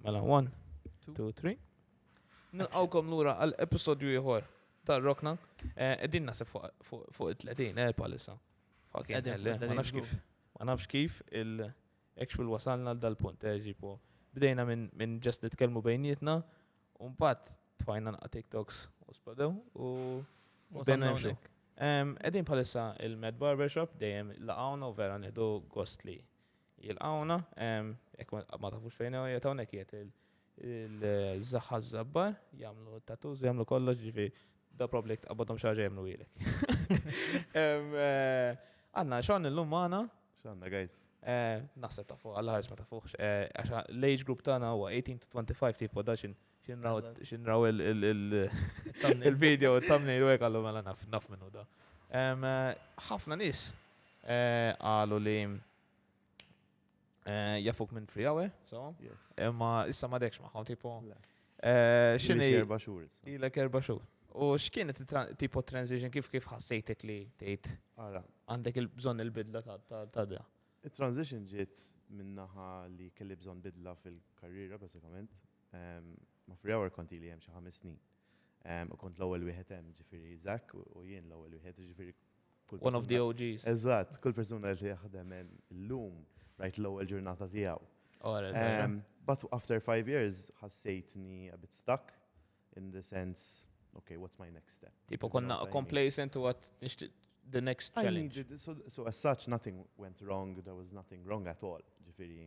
Mela, one, two, three. Nilqawkom lura għal episodju ieħor tar-Rokna. Eh, qegħdin nasib fuq il-30, eh, palissa. Ma nafx kif. Ma nafx kif il-actual wasalna dal-punt, eh, ġipu. Bdejna minn ġest nitkellmu bejnietna, un bat tfajna naqqa TikToks u spadew u bdejna nxu. Qegħdin palissa il-Med Barbershop dejjem laqgħuna u vera nieħdu gostli. Jilqgħuna, jekk ma tafux fejn hawn qiegħed hawnhekk qiegħed il-żaħħa żabbar, jagħmlu tattoos, jagħmlu kollox ġifi da probably jekk tqabadhom xi ħaġa jagħmlu ilek. Għandna xogħol illum magħna. X'għandna guys? Naħseb ta' fuq għal ħaġa ma ta' fuqx. Għax l-age group tagħna huwa 18 to 25 tip podaxin. Xinraw il-video, il-thumbnail u hekk għallu mela naf, naf minnu da. Ħafna nies qalu li jafuk minn free hour, so? Imma issa ma dekx maħħom, tipo. Xini? Erba xur. Ilek erba xur. U x'kienet tipo transition kif kif ħassejtek li tgħid? Ara. Għandek il-bżonn il-bidla ta' da. Il-transition ġiet minnaħa li kelli bżonn bidla fil-karriera, basikament. Ma' Free Hour kont ili hemm xi ħames snin. U kont l-ewwel wieħed hemm, ġifieri Zak u jien l-ewwel wieħed, ġifieri One of the OGs. Eżatt, kull persuna li jaħdem hemm illum rajt l-ewwel ġurnata tiegħu. But after five years ħassejtni a bit stuck in the sense, okay, what's my next step? Tipo konna complacent u għat the next challenge. So as such, nothing went wrong, there was nothing wrong at all. Ġifiri,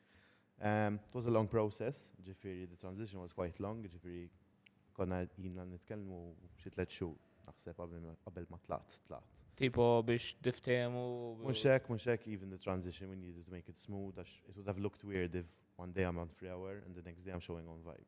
It was a long process, ġifiri the transition was quite long, ġifiri konna jina nitkellmu xi tliet xhur naħseb qabel ma tlat, tlat. Tipo biex tiftehmu. Mhux hekk, mhux hekk even the transition we needed to make it smooth, it would have looked weird if one day I'm on free hour and the next day I'm showing on vibe.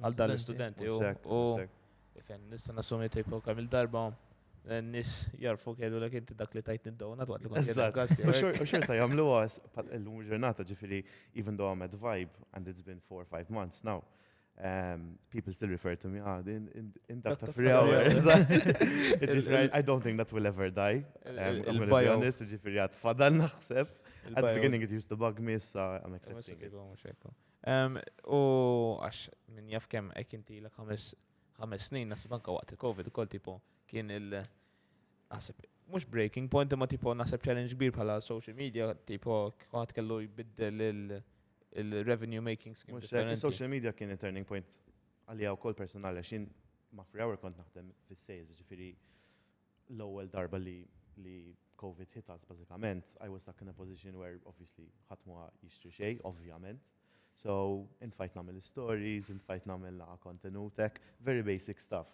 għal dan l-istudenti. U fejn nista' nassumi tejko kemm il-darba eh, nis jarfu kellu l inti dak li tajt nid-dona twaqt li kont U xorta jamlu għas, l-lum ġurnata ġifiri, even though I'm at vibe and it's been four or five months now, um, people still refer to me, ah, in, in, in that three hours. I don't think that will ever die. Um, I'm going to be honest, ġifiri għad fadal naħseb. At the beginning it used to bug me, so I'm accepting it. U għax minn jaf kem ek inti l ħames snin, nasib anka waqt il-Covid, kol tipo kien il- nasib, mux breaking point, imma tipo nasib challenge kbir bħala social media, tipo kħat kellu jbiddel il-revenue making scheme. Social media kien il turning point għalija u kol personali, xin ma' free hour kont naħdem fil-sales, ġifiri l-ewwel darba li li covid hit us bażikament I was stuck in a position where obviously ħadd mhu jixtri xejn, ovvjament. So intfajt nagħmel is-stories, intfajt nagħmel laqgħa kontenut hekk, very basic stuff.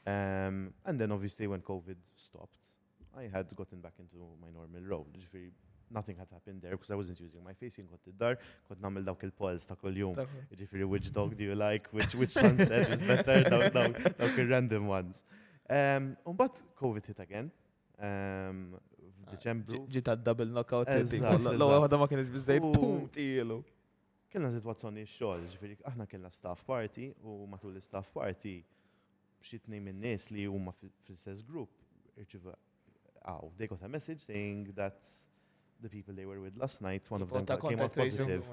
Ehm and then obviously when covid stopped I had gotten back into my normal role, jiġifieri nothing had happened there because I wasn't using my face, jien kont id-dar, kont nagħmel dawk il-polls ta' kuljum. Jiġifieri which dog do you like, which which sunset is better, dawk ir-random ones. U mbagħad COVID hit again. F'Diċembru. Ġiet għad double knockout l-ewwel waħda ma kienx biżejjed tum tielu. Kellna sitwazzjoni x-xogħol, ġifieri aħna kellna staff party u matul l-istaff party xi tnejn min-nies li huma fl-istess grupp irċiva aw, they got a message saying that the people they were with last night, one of them came out positive.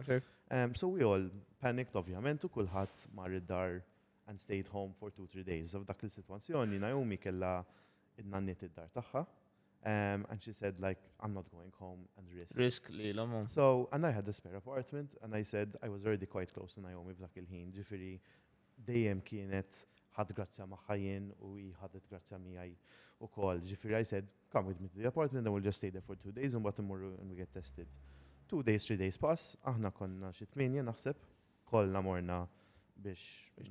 Um, so we all panicked, ovvjament, u kullħat mar id-dar and stayed home for two, three days. So f'dak il-sitwazzjoni Naomi kellha nnanniet id-dar tagħha Um, and she said, like, I'm not going home and risk. Risk li l So, and I had a spare apartment, and I said, I was already quite close to Naomi f'dak il-ħin, ġifiri, dejjem kienet ħad grazzja maħħajin u i ħadet grazzja miħaj u kol. Ġifiri, I said, come with me to the apartment, and we'll just stay there for two days, and what tomorrow and we get tested. Two days, three days pass, aħna konna xitminja naħseb, kollna morna biex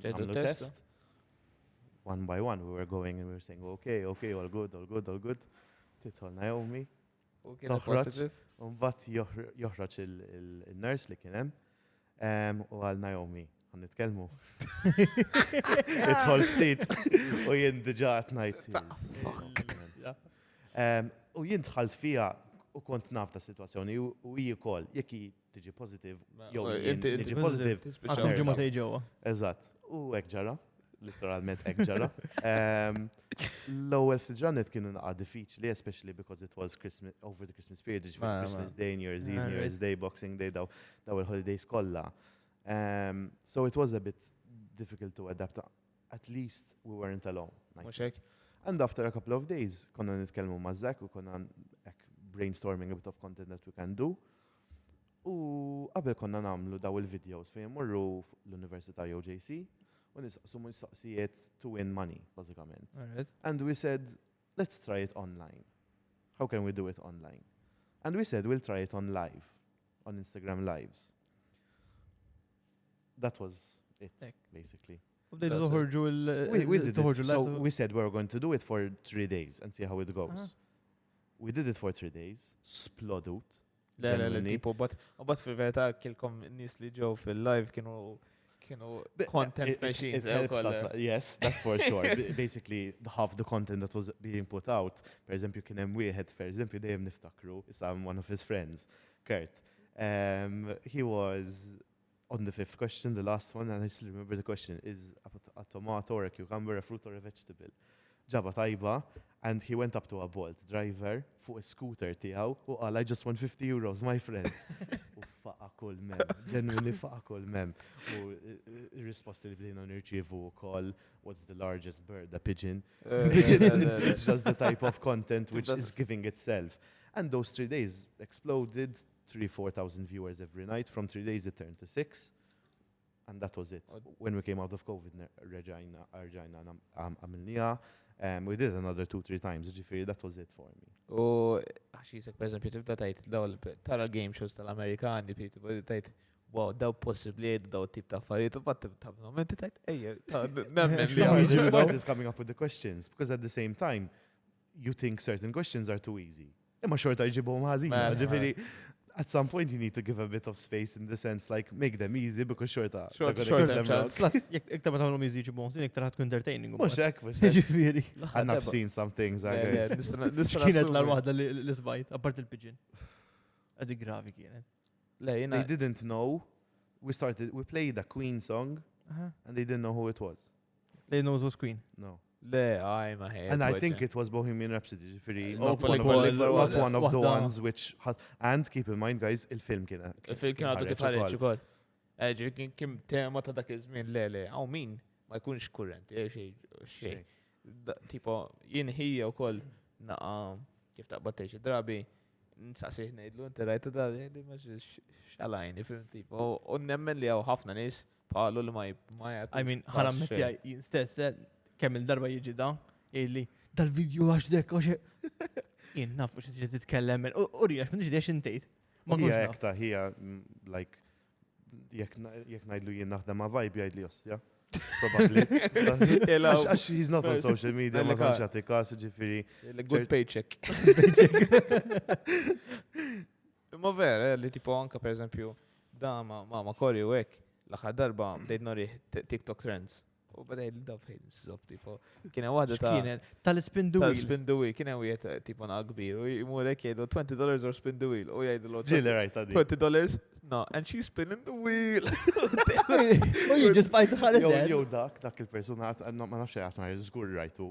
nagħmlu test. One by one we were going and we were saying okay, okay, all good, all good, all good. Titħol Naomi. U kien positive. Unbat joħroġ il-nurse li kien hemm u għal Naomi għan nitkelmu. Itħol ftit u jien diġa għatnajt. U jien tħalt fija u kont naf ta' situazzjoni u jie kol, jekk tiġi positive, jew tiġi positive. Għadhom ġimgħatej ġewwa. Eżatt. U hekk ġara, literalment hekk ġara. Ehm, l-ewwel ftit ġranet kienu naqa' diffiċli, especially because it was Christmas over the Christmas period, ġifieri ah, Christmas Day, New Year's Eve, ah, New Year's Day, Boxing Day, daw daw il-holidays kollha. Ehm, so it was a bit difficult to adapt. At least we weren't alone. Mhux hekk? And after a couple of days, konna nitkellmu ma' Zach u konna hekk brainstorming a bit of content that we can do. U qabel konna nagħmlu daw il-videos fejn morru l-Università jew JC u nistaqsu mistaqsijiet to win money, bażikament. And we said, let's try it online. How can we do it online? And we said, we'll try it on live, on Instagram Lives. That was it, basically. Bdejtu toħorġu l- We said we're going to do it for three days and see how it goes. We did it for three days, splodut. Le, le, le, tipo, but, but fil-verita kilkom nis li ġew fil-live kienu kienu content machines. Yes, that's for sure. Basically, half the content that was being put out, per eżempju, kien hemm wieħed, per eżempju, dejjem niftakru, issa one of his friends, Kurt, He was on the fifth question, the last one, and I still remember the question, is a tomato or a cucumber a fruit or a vegetable? Ġaba tajba, and he went up to a bolt driver fuq il-scooter tijaw u għal, I just want 50 euros, my friend. U faqa kol mem, ġenwini faqa kol mem. U risposti li bdejna nirċivu kol, what's the largest bird, a pigeon? It's just the type of content which is giving itself. And those three days exploded three four thousand viewers every night from three days it turned to six and that was it. When we came out of Covid reġajna arġajna għamilnija um, we did another two three times ġifiri that was it for me. U għax jisek per eżempju tibda tajt daw tara game shows tal-Amerikani tibda tajt wow, daw possibli daw tip ta' affarijiet, u bat ta' momenti tajt, ejja, nemmen li. This is coming up with the questions, because at the same time, you think certain questions are too easy. Imma xorta jġibuhom ħażin. Ġifieri, at some point you need to give a bit of space in the sense like make them easy because xorta. Xorta, xorta. Plus, iktar ma tagħmlu miżi ġibuhom sin iktar ħatkun entertaining. Mhux hekk, mhux. Ġifieri. And I've seen some things, I guess. Kienet l-waħda li sbajt, apart il-piġin. Għadi gravi kienet. They didn't know. We started, we played a Queen song and they didn't know who it was. They didn't know it was Queen? No. Le, għaj ma ħed. And I think it was Bohemian Rhapsody, ġifiri, oh, not, one of, the ones which had, and keep in mind, guys, il-film kien. Il-film kien għadu kif ħareġ ukoll. Eġi, eh, kien kim tema ta' dak iż-żmien, le, le, għaw min ma jkunx kurrent, eh, xej, xej. Tipo, jien ħija wkoll naqa kif ta' batteċi drabi, nsaqsih ngħidlu inti rajtu da, ma xalajni, fim, tipo, u nemmen li għaw ħafna nis. Nice Qalu li ma jgħetu. I mean, ħana metti jien stess, eh, kemm il-darba jiġi da, illi dal-video għax dek għax. Jien nafu xi tiġi titkellem, u rija x'minn ġdiex intejt. Ma hija hekk ta' hija mm, like jekk ngħidlu jien naħdem ma' vibe jgħidli ostja. Probably. Għax he's not on social media, ma tantx jagħti każ, ġifieri. Good paycheck. Imma vera eh, li tipo anka per eżempju da ma, ma, ma kori u hekk l-aħħar darba bdejt norih t- TikTok trends. U bada jgħid li daw fejn s-zob tipo. Kien hemm waħda ta' Kienet tal-spindu. ta' spin the wheel, kien hemm wieħed eh, tipo na kbir u jmurek jgħidu 20 dollars or spin the wheel u jgħidilhom Ġili rajta di. 20 dollars, no, and she's spinning the wheel. U jiġi spajtu ħares Jew- le. Jew dak, dak il-persuna, għat- ma nafx għat ma żgur rajtu,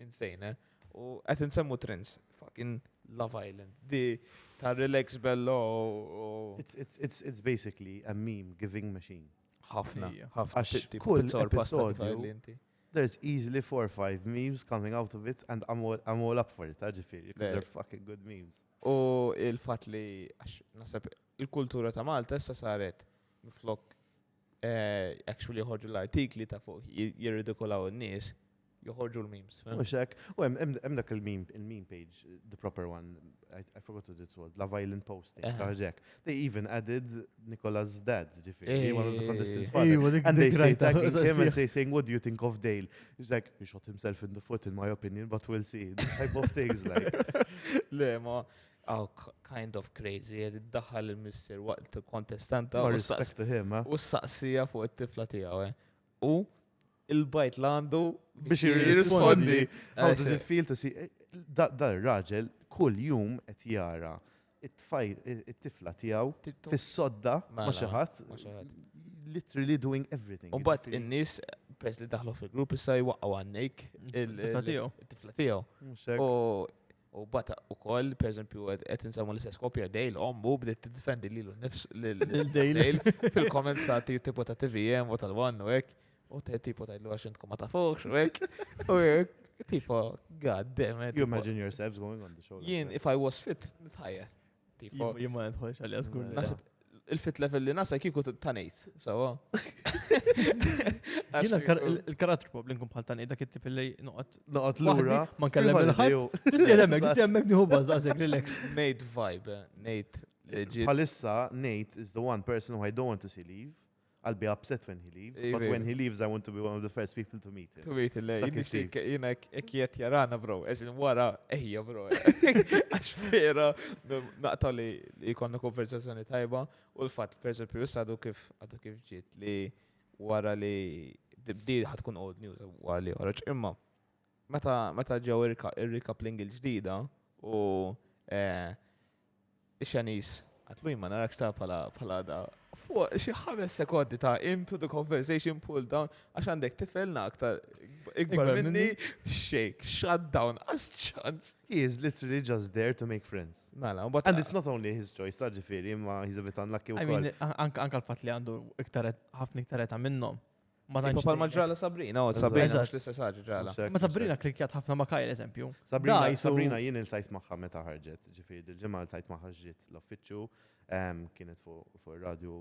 insane, eh? U qed insemmu trends, fucking Love Island, di ta' relax bello. It's, it's, it's, it's basically a meme giving machine. Ħafna, ħafna. Kull episodju. There's easily four or five memes coming out of it and I'm all, I'm all up for it, ġifiri, because they're fucking good memes. U il-fat li, nasab, il-kultura ta' Malta issa saret miflok eh, actually ħorġu l-artikli ta' fuq jirridikolaw n-nies joħorġu l-memes. Mux hekk, u hemm dak il-meme, il-meme page, the proper one, I, I forgot what it's called, la violent posting, uh-huh. saħġek. They even added Nicola's dad, ġifiri, one of the contestants' father. And they say tagging him and say saying, what do you think of Dale? He's like, he shot himself in the foot, in my opinion, but we'll see. The type of things like. Le, ma, oh, kind of crazy, jed daħal il-mister waqt il-kontestanta. Respect to him, eh? U s-saqsija fuq it-tifla tijaw, eh? U il-bajt li għandu biex jirrispondi. How does it feel to see dar raġel kull jum qed jara it-tifla tiegħu fis-sodda ma' xi ħadd literally doing everything. U bat in-nies pers li daħlu fil-grupp issa jwaqqgħu għannejk il-tifla tiegħu. U U bata u koll, per esempio, għet nsemmu l-istess kopja Dale, ommu bdiet t-difendi li l-nifs l-Dale fil-komment sa' tipo ta' TVM u tal-one u ek, u ta' tipo ta' l-għaxint kuma ta' fuq, u ek, u ek, tipo, god damn it. You imagine yourselves going on the show. Jien, if I was fit, nitħajja. Tipo. Jien ma nidħolx għalli għazgur. Nasib, il-fit level li nasa kiku tanejs, sawa. Il-karattru probabli nkun bħal tanejs, dak it-tip li noqot. Noqot l-ura. Ma nkellem il-ħajju. Jemmek, jemmek niħu bazz, għazek, relax. Nate vibe, eh, Nate. Palissa, Nate is the one person who I don't want to see leave. I'll be upset when he leaves, but when he leaves I want to be one of the first people to meet him. To meet him, lej. Nixtik, jina kiet jarana, bro, eżin wara, eħja, bro. Għax vera, naqta li jikonna konversazzjoni tajba, u l-fat, per esempio, għadu kif għadu kif ġiet li wara li dibdi ħatkun old news wara li ħoroġ. Imma, meta ġew ir-recoupling il-ġdida u eh, Ix-Xeniż, Għatluj ma narakx ta' bħala bħala da. Fuq xi ħames sekondi ta' into the conversation pull down għax għandek tifelna aktar ikbar minni shake shut down għas ċans. He is literally just there to make friends. Mela, u bat. And it's not only his choice, ta' ġifieri, imma he's a bit unlucky u. Anka l-fatt li għandu iktar ħafna iktar eta minnhom. Ma tantx. Pal ma ġrala Sabrina, oh, Sabrina mhux l-istess ħaġa ġrala. Ma Sabrina klikjat ħafna ma Kyle eżempju. Sabrina, Sabrina jien il-tajt magħha meta ħarġet, ġifieri dil-ġimgħa l-tajt magħha ġiet l-offiċċju, kienet fuq ir-radju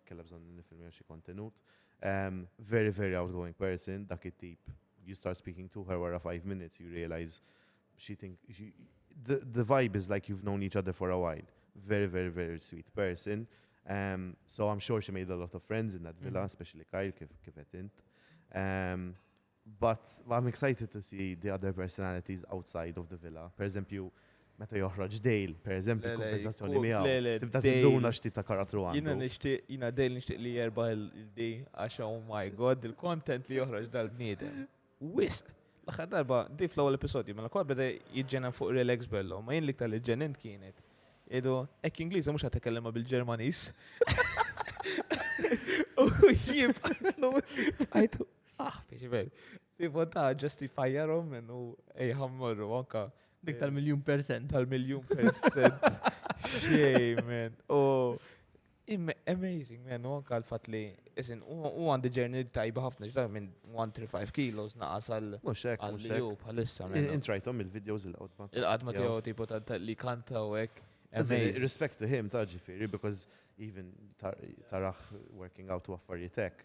kellha bżonn nifilmja xi kontenut. Very, very outgoing person, dak it-tip. You start speaking to her wara five minutes, you realize she think she, the, the vibe is like you've known each other for a while. Very, very, very sweet person. Um, so I'm sure she made a lot of friends in that villa, mm -hmm. especially Kyle, kif, kif int. Um, but I'm excited to see the other personalities outside of the villa. Per eżempju, meta joħroġ Dale, per eżempju, konversazzjoni miegħu. Tibda tinduna xti ta' karatru għandu. Jina nixtieq, jina Dale nixtieq li jerba il-di, għax oh my god, il-content li joħroġ dal-bniedem. Wisq! L-aħħar darba, di fl-ewwel episodju, mela Cor beda jiġġennen fuq Re Lex Bello, imma jien l-iktar li ġġennint kienet. Idu, hekk Ingliża mhux ħadd ikellimha bil-Ġermaniż. U jien bqajtlu bqajtu aħfex ivel. Tipo ta' just jfajjarhom minn u ejja mmorru anka. Dik tal-miljun percent. Tal-miljun percent. Xejn, man. U Amazing man, u anka l-fat li, isin, u għandi ġerni tajba ħafna ġdar minn 135 kilos naqas għal. Mux ek, mux ek. Ju, bħalissa. Intrajtom il-videos il-qadma. Il-qadma tiegħu tipo ta' li kanta u ek. Respect to him ta' ġifiri, because even tarax working out u affarijiet hekk,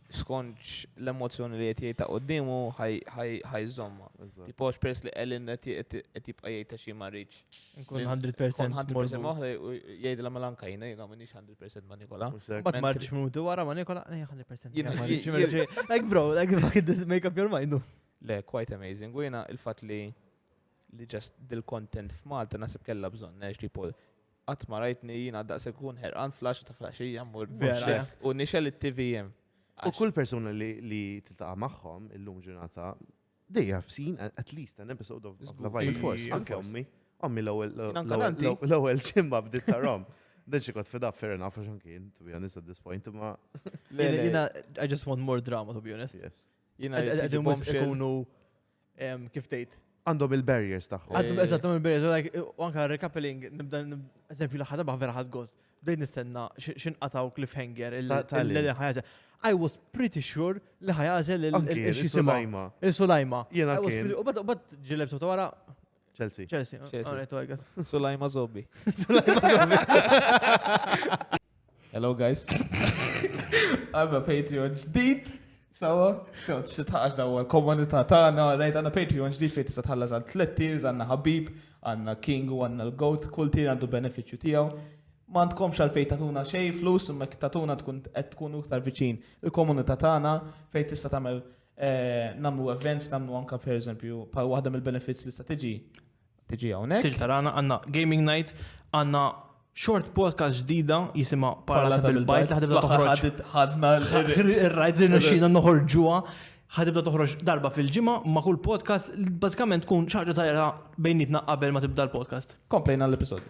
skont l-emozzjoni li qed jgħid ta' quddiemu ħa jżommha. Tipo peress li Ellen qed jibqa' jgħid ta' xi ma rridx. Nkun 100% 100% moħħli jgħidilha mela anke jien ma minix 100% ma' Nikola. Bad ma rridx mutu wara ma' Nikola, 100% jien ma rridx. Like bro, like make up your mind. Le, quite amazing. U jiena il-fatt li li ġast dil-content f'Malta nasib kella bżonn, għax li pol. Qatt ma rajtni jiena daqshekk ikun ħerqan fl-għaxra ta' filgħaxija mmur Vera. u nixgħel it-TVM. U kull persuna li li tiltaqa' magħhom illum ġurnata, they have seen a- at least an episode of of Żgur, Love Island. bil-fors, Anke bil-fors. ommi. Ommi l-ewwel l- Jien anke l-ewwel- nanti. l- l-ewwel ġimgħa bdiet tarahom. Then she got fed up, fair enough, għax anke jien, to be honest, at this point, imma Le, Jiena- le, Jiena, I just want more drama, to be honest. yes. jiena Għed- rrid għed- jiġi għedin wis bombshell. ikunu kif tgħid, għandhom il-barriers tagħhom. Għandhom eh. eżatt il-barriers, like, u anka recoupling, nibda eżempju l-aħħar darba vera ħadd gost. Bdejt nistenna x'inqataw cliffhanger il-ħajja. I was pretty sure li ħajażel il-xisima. Il-sulajma. Jena kien. U bat ġileb sota wara, Chelsea. Chelsea. Chelsea. All right, I guess. Sulajma Zobbi. Hello guys. Għanna Patreon ġdid. Sawa, kont xi tħax daw l-komunità tagħna, rajt għandna Patreon ġdid fejn tista' tħallas għal tliet tiers, għandna Habib, għandna King u għandna l-Goat, kull tier għandu benefiċċju tiegħu. Ma għandkomx għal fejn tatuna xejn flus imma jekk tatuna tkun qed tkunu iktar viċin il-komunità tagħna fejn tista' tagħmel Namlu events, namlu anka per eżempju, pal waħda mill-benefits li sta tiġi. Tiġi hawnhekk. Tiġi tarana għandna gaming night, għandna short podcast ġdida jisima Parla bil-bajt li ħadibda toħroġ. Ħadna l-rajt zirna xina noħorġuha. Ħadibda toħroġ darba fil-ġimgħa ma' kull podcast bażikament tkun xaġa tajra bejnietna qabel ma tibda l-podcast. Komplejna l-episodju.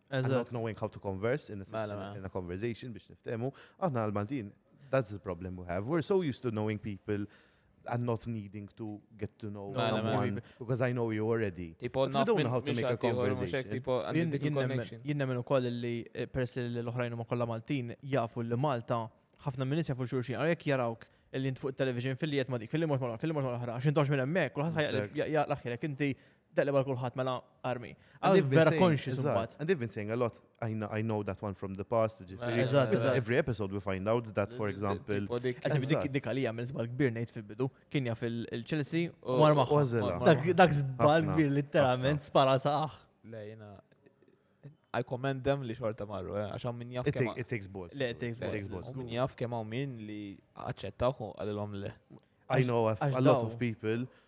Eżatt. Not knowing how to converse in a, mela, mela. in a conversation biex niftemu. Aħna għal-Maltin, that's the problem we have. We're so used to knowing people and not needing to get to know mela, someone because I know you already. Tipo, I don't know how to make a conversation. Jinna minn ukoll li eh, peress li l-oħrajn ma kollha Maltin jafu li Malta ħafna minn jafu xurxin, għalhekk jarawk li int fuq television fil-liet ma dik, fil-limot ma fil-limot ma l-oħra, għax intox minn hemmhekk, kulħadd ħajja l-aħħirek inti Daqli għal kulħadd mela armi. Għal vera conscious imbagħad. And they've been saying a lot, I know, I know that one from the past. Every episode we find out that, for example. Dik dik għalija minn żbal kbir ngħid fil-bidu, kien jaf il-Chelsea u mar maħħa. Dak żbal kbir literalment spara saħ. Lejna, I commend them li xorta marru, eh, għaxan min jaf kemm. It takes balls. Le, it takes balls. Min jaf kemm hawn min li aċċettaw għalilhom le. I know a lot of people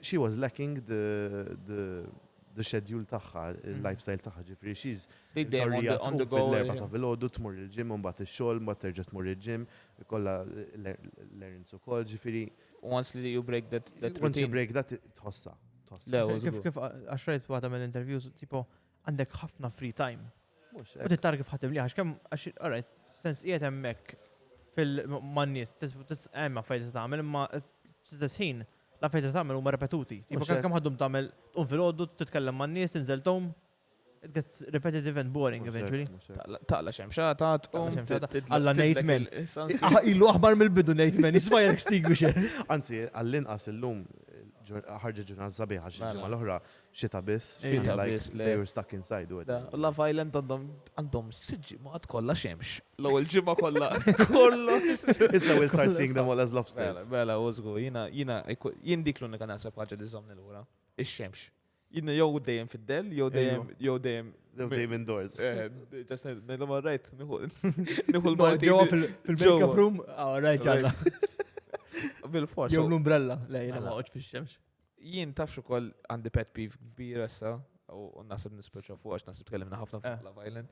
She was lacking the the schedule tagħha, il-lifestyle tagħha, ġifieri she's il-karrija tqum fil-erbgħa ta' filgħodu, tmur il-gym u mbagħad ix-xogħol, mbagħad terġa' tmur il-gym, ikollha l-errands ukoll, ġifieri. Once li you break that routine. Once you break that tħossha. Le, u żgur. Kif kif għax rajt waħda mill-interviews, tipo, għandek ħafna free time. U tittar kif ħatim li għax kem, għax, alright, sens jiet emmek fil-mannis, emma fejt t-għamil, imma stess ħin, la fejt t-għamil u repetuti. Tipo kem kem ħaddum t-għamil, un fil-ħoddu, t-tkellem mannis, tinżel tom, it gets repetitive and boring eventually. Taqla xemxa, tat, um, għalla Nate Man. Ah, illu aħbar mill-bidu Nate Man, jisfajer extinguisher. Anzi, għallin qas illum ħarġa ġurnal sabiħa xi mela. ġimgħa l-oħra Xita biss, feeling like they were stuck inside u għedin. Love Island għandhom għandhom sitt ġimgħat kollha xemx. L-ewwel ġimgħa kollha kollha. Issa we'll start seeing them all as lobsters. Bella, użgu, jiena jiena jien dik l-unika naħseb ħaġa li żommni lura. Ix-xemx. Jien jew dejjem fid-dell, jew dejjem jew dejjem Jew dejjem indoors. Ġas ngħidhom all right, nieħu l-Malti. Ġewwa fil-makeup room, all right ġalla. Bil-forsi. Jew l-umbrella, lejn ma fix-xemx. Jien tafx ukoll għandi pet peeve kbira issa u naħseb nispeċa fuq għax naħseb tkellimna ħafna fuq eh. Love Island.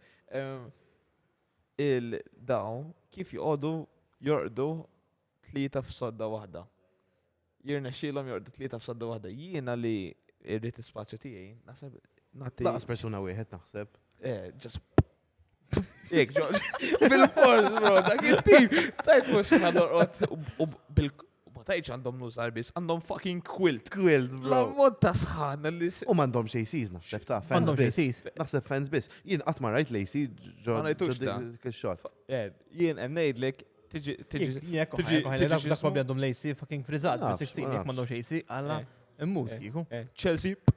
Il-daw kif joqogħdu jorqdu tlieta f'sodda waħda. Jirna xilhom jorqdu tlieta f'sodda waħda. Jiena li irrid ispazju tiegħi naħseb nagħti. Laqas persuna wieħed naħseb. Eh, ġas Jek, ġoġ. Bil-fors, bro, dak il-tip. Tajt mux ħadorqot u bil Ma tajċ għandhom nużar bis, għandhom fucking quilt. Quilt, bro. La mod ta' sħan li. U mandom xej season, naħseb ta' fans bis. Naħseb fans bis. Jien qatt ma rajt lejsi ġo. Ma rajtux xot. Eh, jien ngħidlek tiġi tiġi. Jekk tiġi dak ma għandhom lejsi fucking frizzat, bis 16 jekk mandom xej si, għalla eh, immut eh, kieku. Chelsea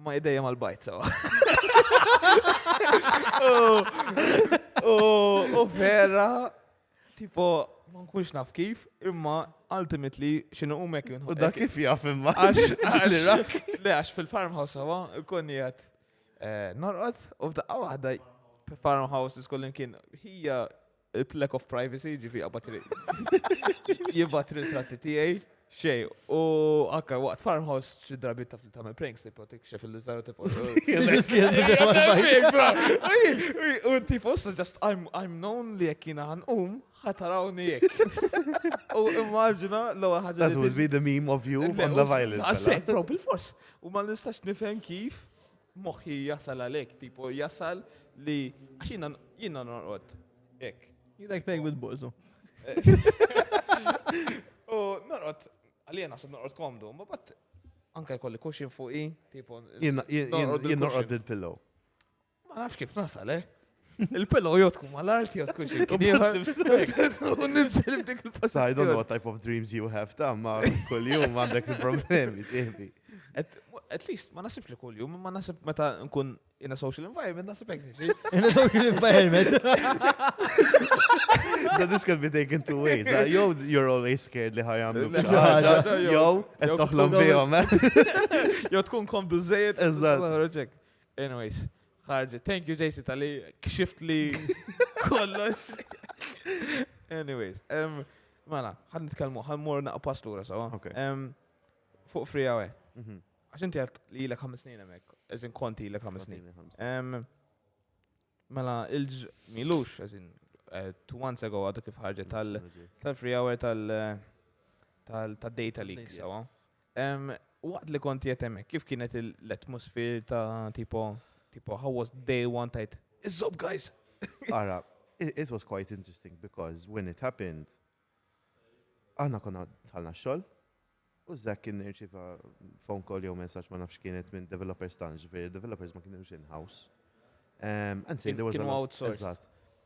Ma ideja mal bajt sawa. U vera, tipo, ma nkunx naf kif, imma ultimately xinu u mek U da kif jaf imma. Le, għax fil-farmhouse għawa, kun jgħat eh, norqot, u f'daqqa wahda farmhouse iskollin kien hija Il-lack of privacy, ġifi għabat jibat ritratti tijaj, xej, u għakka waqt farmħos xi drabi taf li tagħmel pranks li poti kxef il-liżaru tipo. U tipo so just I'm I'm known li jekk jiena ħanqum ħatarawni jekk. U immaġina l-ewwel ħaġa. That would be the meme of you on the violence. Għasek, bro, bil-fors. U ma nistax nifhem kif Moħħi jasal għalhekk, tipo jasal li għax jiena jiena norqod hekk. You like playing with bozo. U norqod għalija naħseb norqod komdu, ma bat anke jkolli cushion fuqi, tipo. Jien norqod bil-pillow. Ma nafx kif nasal, eh? Il-pillow jew tkun mal-art, jew tkun xi U ninsil dik il-post. I don't know what type of dreams you have ta' ma kull-jum għandek il-problemi, sieħbi. At least, ma nasib li kull-jum, ma nasib meta nkun in a social environment, nasib ek. In a social environment. So this can be taken two ways. Eh? Jow, you're always scared li ħajam. Jow, et toħlom bijom. Eh? Jow, tkun kom du zejt. Eżat. Anyways. Ħarġet. Thank you JC tal-li kxift li kollox. Anyways, em, mela, ħad nitkellmu, ħad mor naqqa pass lura sawa. Ok. Em, Fuq free għawe. Mhm. Għax inti għat li l ħames snin hemmhekk, eżin konti l ħames snin. Konti l-ħames Em, Mela, il-ġ, milux, eżin, eh, two months ago għadu kif ħarġet tal- tal-free hour tal- tal- tal-data leak, Yes. sawa. Waqt li kont qiegħed hemmhekk, kif kienet l-atmosphere ta' tipo, tipo, how was day one tajt, iżżobb guys! Ara, it was quite interesting because when it happened, aħna konna tħalna xogħol, u Zach kien irċiva phone call jew messaġġ ma nafx kienet minn developers tanġ, veri developers ma kienux in-house. And say there was a outsourced.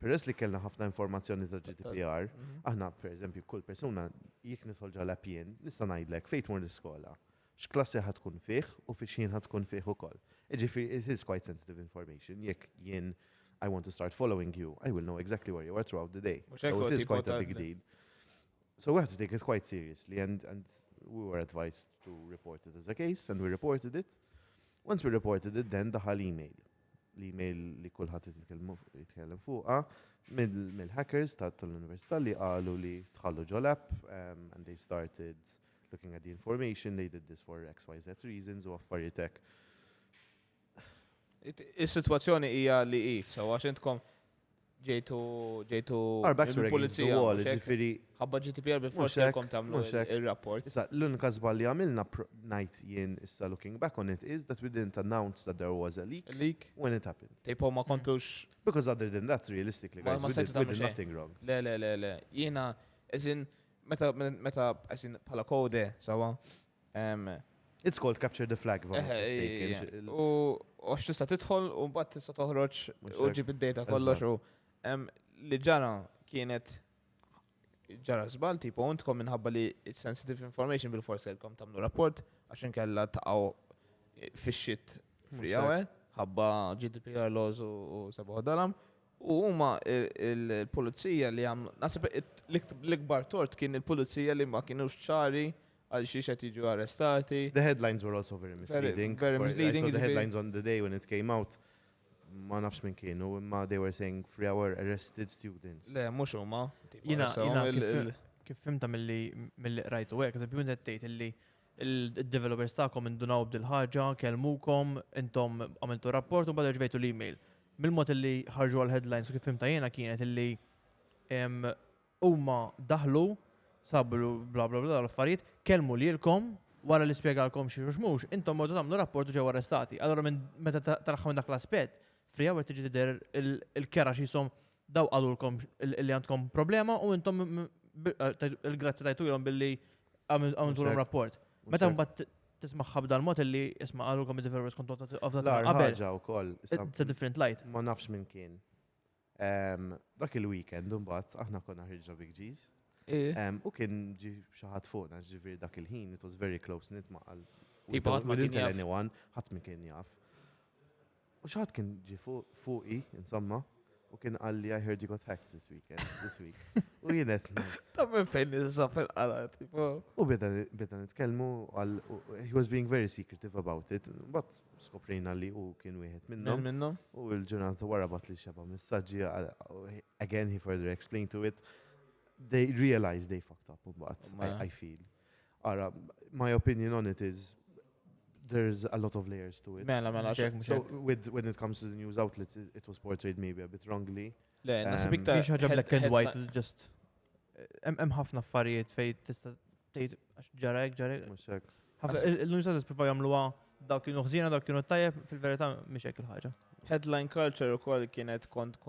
Peress li kellna ħafna informazzjoni ta' GDPR, aħna pereżempju kull persuna jekk nidħol ġo l-app jien, nista' ngħidlek fejn tmur l-iskola, x'klassi ħa tkun fih u fi x'ħin ħa tkun fih ukoll. Jiġifieri it is quite sensitive information jekk jien I want to start following you, I will know exactly where you are throughout the day. So it is quite a big deal. So we have to take it quite seriously and, and we were advised to report it as a case and we reported it. Once we reported it then daħal email l-email li kulħadd jitkellem fuqha mill-hackers tal-università li qalu li tħallu ġol app and they started looking at the information, they did this for XYZ reasons u affarijiet hekk. Is-sitwazzjoni hija li hi, so għax intkom Ġejtu, ġejtu. Arbax regolizzi għol, ġifiri. Għabba GDPR bil-forsi għakom tamlu il-rapport. Issa, l-unika zballi għamilna najt jien issa looking back on it is that we didn't announce that there was a leak. Leak. When it happened. Tipo ma kontux. Because other than that, realistically, guys, we did, we did nothing wrong. Le, le, le, le. Jena, eżin, meta, meta, eżin, pala kode, sawa, It's called capture the flag, if I'm not mistaken. U għax tista' tidħol u mbagħad tista' toħroġ u ġib id-data kollox u li ġara kienet ġara żball tipo intkom minħabba li sensitive information bil-forsi għalkom tagħmlu rapport għax inkella taqgħu fix-xit free hour ħabba GDPR laws u sabaħ dalam. U huma il-pulizija li għam, nasib l-ikbar tort kien il-pulizija li ma kienu ċari għal xiex qed jiġu arrestati. The headlines were also very misleading. Very misleading. I saw the headlines on the day when it came out. Ma nafx minn kienu, imma they were saying free our arrested students. Le, mux huma. Jina, kif fimta mill-li rajtu għek, eżempju, minn tgħid illi il-developers ta'kom indunaw b'dil ħaġa, kelmukom, intom għamiltu rapport u bada ġvejtu l-email. Mil-mot illi ħarġu għal-headlines u kif fimta jena kienet illi Huma daħlu, sabu l-, bla bla bla, l-affarijiet, kellmu lilkom, wara li spjegalkom x'inhu u x'mhux, intom mortu tagħmlu rapport u ġew arrestati. Allura minn meta taraha minn dak l-aspett, friegħa u qed tiġi tidher il-kera xi jishom daw qalulkom li għandkom problema u intom il-grazzja tajtuhom billi għamiltulhom rapport. Meta mbagħad tismagħha b'dan mod illi isma' qalulkom id-diverwers kontu qabel. Ħaġa wkoll. It's a different light. Ma nafx minn kien. Dak il-weekend imbagħad aħna konna ħriġna Big G's. U kien ġi xi ħadd fuqna ġifieri dak il-ħin, it was very close knit ma' qal. Iba ma' didn't tell anyone, ħadd min kien jaf. U xi ħadd kien ġi fuqi, insomma, u kien qal li I heard you got hacked this weekend, this week. U jien qed ngħid. Ta' minn fejn nisa fil-qala, tipo. U beda nitkellmu għal he was being very secretive about it, but Skoprejna li u kien wieħed minnhom. Minnhom? U l-ġurnata wara bat li xeba messaġġi, again he further explained to it, they realize they fucked up, but I, I feel. Ara, my opinion on it is, there's a lot of layers to it. Mela, mela, xek, So, with, when it comes to the news outlets, it was portrayed maybe a bit wrongly. Le, nasib iktar. Biex ħagġa black and white, just. Hemm ħafna affarijiet fejn tista' tgħid għax ġara hekk ġara hekk. Il-newsletters provaw jagħmluha dawk kienu ħżiena dawk kienu tajjeb fil-verità mhix hekk il-ħaġa. Headline culture ukoll kienet kont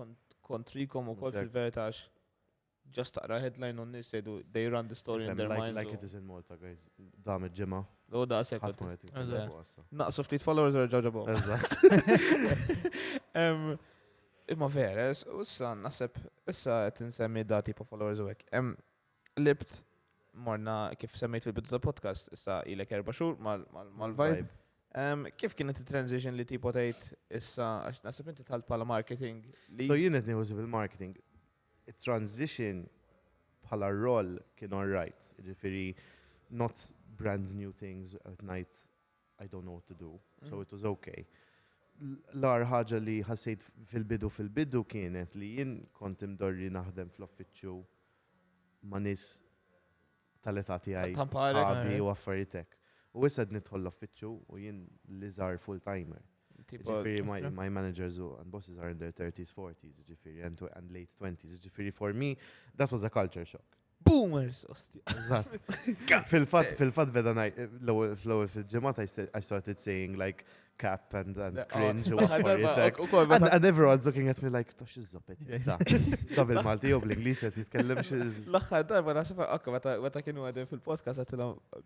kontrikom ukoll fil-verità għax ġast taqra headline u n-nies jgħidu they run the story in their mind. Like it is in Malta guys, dam il-ġimgħa. U da sekk. Naqsu ftit followers u rġaġabu. Eżatt. Imma vera, u issa naħseb, issa qed insemmi dati pa' followers u hekk. Libt morna kif semmejt fil-bidu ta' podcast, issa ilek erba' xhur mal-vibe. Kif kienet it-transition li tipo tgħid issa għax naħseb inti tħalt bħala marketing li. So jien qed nieħu civil marketing. It-transition bħala rol kien all right. Ġifieri not brand new things qed ngħid I don't know what to do, so it was okay. L-għar ħaġa li ħassejt fil-bidu fil-bidu kienet li jien kont imdorri naħdem fl-offiċċju ma' nis tal-età tiegħi sabi eh. u affaritek. U issa qed nidħol l-offiċċju u jien li żar full-timer. Ġifiri, my, my managers and bosses are in their 30s, 40s, ġifiri, and, and late 20s, ġifiri, for me, that was a culture shock. Boomers, ostja. Eżatt. Fil-fatt, fil-fatt beda ngħid fl-ewwel fil-ġimgħa I started saying like cap and, and oh, cringe u affarijiet. And, and everyone's looking at me like, ta' xizzopet. Da bil-Malti u bl-Inglis qed jitkellem L-aħħar darba naħseb ok, meta kienu għadin fil-podcast għatilhom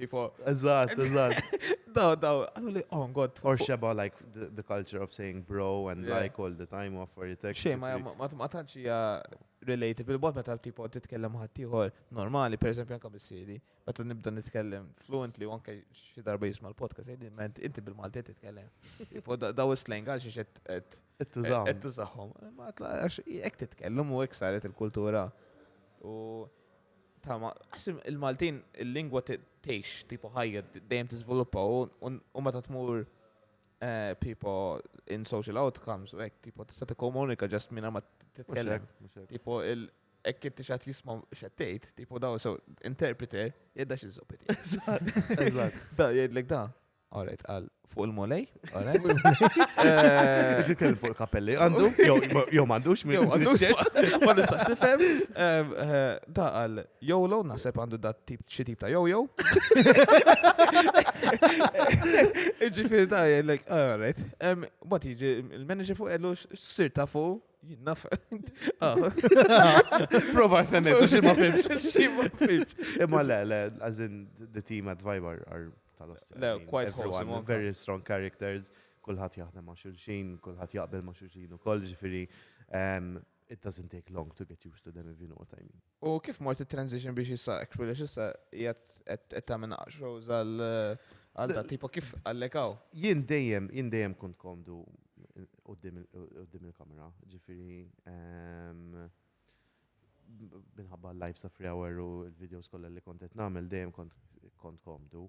Tipo. Eżatt, eżatt. Daw, daw, għallu li, oh god. Or xeba like the, the culture of saying bro and yeah. like all the time u affarijiet tek. Xej, ma, ma, ma tantx hija related bil-bot meta tipo titkellem ħaddieħor normali, per eżempju anke bissiri, meta nibda nitkellem fluently u anke xi darba jisma' l-podcast, jgħid ma inti bil-Malti titkellem. Tipo daw is-slang għal xiex qed qed tużahom. Ma għax hekk titkellem u hekk saret il-kultura. U ta' ma għasim il-Maltin il-lingwa tgħix tipo ħajja dejjem tiżviluppa u meta tmur eh, tipo in social outcomes u hekk tipo tista' tikkomunika ġast minna ma titkellem. Tipo il hekk inti xat jisma' x'qed tgħid, tipo daw so interpreter jedda xi żoppiti. Eżatt. Da jgħidlek da. All right, għal fuq il-mulej. All right. Titkellem fuq il-kapelli. Għandu? Jew m'għandux minn Ma nistax nifhem. Ehm, eh, da għal jolo, naħseb għandu da tip xi tip ta' jojo. Ġifieri ta' like, all right. Ehm, Bat jiġi il-manager fuq għallu x'sir ta' fuq jinnaf. Ah. Prova s-senet, xie ma fimx. Xie ma fimx. Imma le, le, as in the team at Viber are tal-osteja. Le, quite wholesome anke. Very strong characters, kulħadd jaħdem ma' xulxin, kulħadd jaqbel ma' xulxin ukoll, ġifieri it doesn't take long to get used to them if you know what I mean. U kif mort it-transition biex issa ekru li xissa jgħat tamen shows għal għal ta' tipo kif għallekaw? Jien dejjem, jien dejjem kont komdu qoddim il-kamera, ġifiri. Ehm, minħabba l-lives ta' free hour u l-videos kollha li kont qed nagħmel dejjem kont komdu.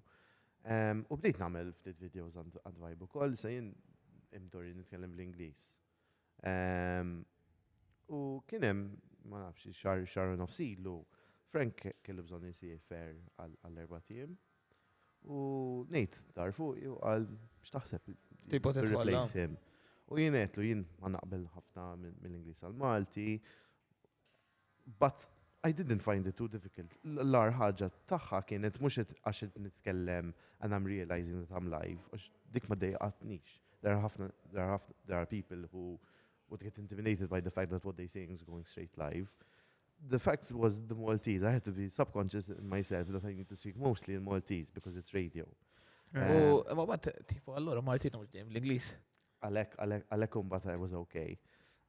U bdejt nagħmel ftit videos għand vibe ukoll, se jien imdorri nitkellem bl-Ingliż. U kien hemm, ma nafx, xar xar u nofs ilu, Frank kellu bżonn isiefer għall-erba' tim, U nejt, dar fuq, u għal, xtaħseb? Tipo t-twalla. U jien għetlu, jien ma naqbel ħafna mill-Inglis għal-Malti. But I didn't find it too difficult. L-ar ħagġa taħħa kienet mux għax nitkellem and I'm realizing that I'm live, għax dik ma dejqatnix. There are ħafna, there are, there are people who would get intimidated by the fact that what they saying is going straight live. the fact was the Maltese, I had to be subconscious in myself that I need to speak mostly in Maltese because it's radio. U eh. ma bat, tipo, allora Maltin u ġdim, l-Inglis. Alek, alek, alek un bat I was okay.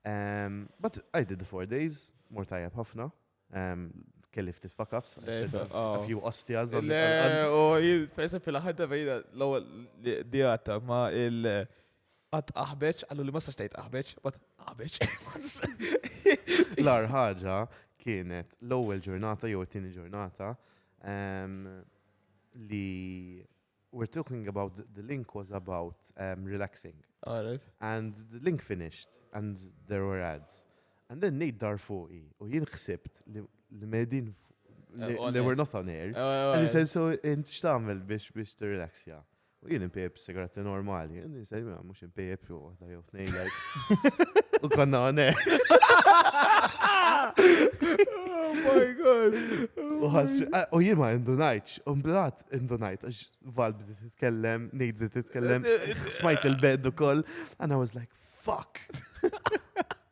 Um, but I did the four days, more tajab ħafna. Um, kelli ftit fuck ups, a few ostias. Le, u jil, fesa fil-ħadda vejda, l-ewel, di għatta, ma il- Qatt aħbeġ, għallu li ma stax tgħid aħbeġ, but aħbeġ. L-ar ħaġa kienet l-ewwel ġurnata jew it-tieni ġurnata ehm, li we're talking about the link was about um, relaxing. All right. And the link finished and there were ads. And then Nate dar fuqi u jien xsibt li medin eh, li were not on air. Eh, and he eh. said, so int xtamil biex biex t-relaxja. U jien impejb sigaretti normali, jien nisajju jgħam, mux impejb xo għada jew tnejn lajk. U konna għane. Oh my god. U ħassu, ah, u jien ma indunajċ, u mblat indunajt, għax Val bdiet titkellem, Nate bdiet titkellem, smajt il-bed u koll, and I was like, fuck.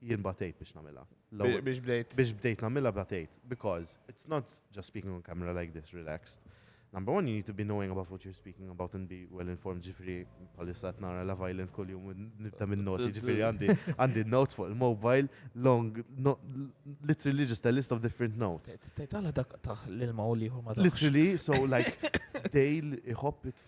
Jien batejt biex nagħmilha. Biex bdejt? Biex bdejt nagħmilha batejt. Because it's not just speaking on camera like this relaxed. Number one, you need to be knowing about what you're speaking about and be well informed ġifri palissa nara la violent kull jum nibda minn noti ġifri għandi għandi notes fuq il-mobile long no, literally just a list of different notes. Tajtala dak taħ l-ilma u liħu ma Literally, so like Dale iħobb it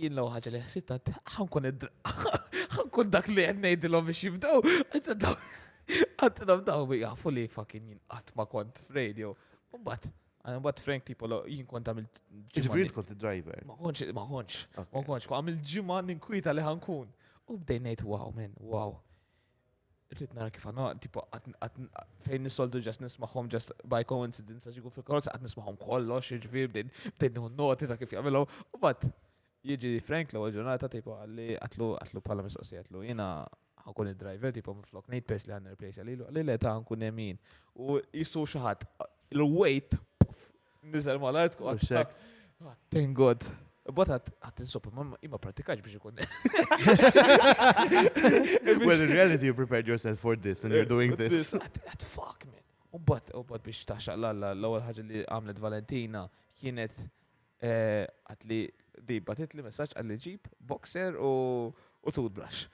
Jien l-ewwel ħaġa li ħsibt għad ħa nkun id ħa nkun dak li qed ngħidilhom biex jibdew. Għattilhom daw jafu li fucking jien qatt ma kont f'radio. U mbagħad Għana bat Frank tipo lo jien kont għamil Ġifrit kont driver. Ma konċ, ma konċ, ma konċ, għamil ġimma ninkwita li ħankun. U bdejn nejt wow, men, wow. Rrid nara kif għandna, tipo, fejn nissoltu ġast nismaħħom ġast by coincidence għax ikun fil-korza għad nismaħħom kollox, jiġifieri bdejn bdejn noti ta' kif jagħmilhom. U bad jiġi Frank l-ewwel ġurnata tipo għalli għatlu għatlu bħala mistoqsija għatlu jiena ħankun id-driver tipo minflok ngħid pers li għandna replace għalilu għalli le ta' nkun hemm jien. U jisu xi ħadd il-weight Nizel ma l-art u għaxek. Thank God. Bot għat insoppa, ma imma pratikajġ biex ikun. Well, in reality, you prepared yourself for this and you're doing this. Għat fuck, man. U bot, u bot biex taxaq l-alla, l-ewel ħagġa li għamlet Valentina kienet eh, għat li di batit li messaċ għalli ġib, boxer u u toothbrush.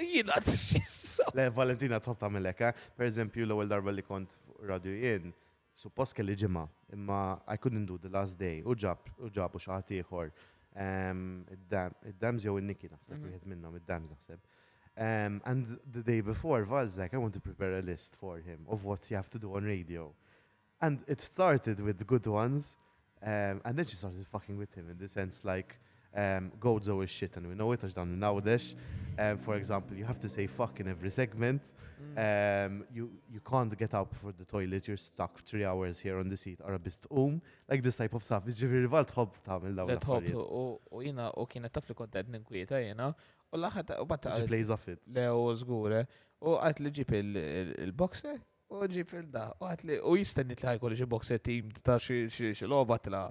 Jina t-xissa. Le, Valentina tħob ta' millek, eh? per eżempju, l-ewel darba li kont radio jien, Suppost kelli ġimgħa, imma I couldn't do the last day u ġab u ġabu xi ħadd ieħor ehm, id-Dam- id-Dams jew in-Niki naħseb, wieħed minnhom id-Dams naħseb. Ehm, and the day before Val's like I want to prepare a list for him of what you have to do on radio. And it started with good ones Umm and then she started fucking with him in the sense like umm Gozo is shit and we know it għax dan minn Għawdex umm for example you have to say fuck in every segment umm you you can't get up for the toilet you're stuck three hours here on the seat ara biss tqum like this type of stuff jiġifieri Rival tħobb tagħmel dawn Le tħobb l-affarijiet. u u jiena u kienet taf li kont qed ninkwieta jiena u l-aħħar ta' u bad ta' She qaltli plays off it. le u żgur eh. U qaltli ġib il-boxer U ġib fil-da, u għat li u jistenni tla jkolli xie boxer team ta' xie loba tla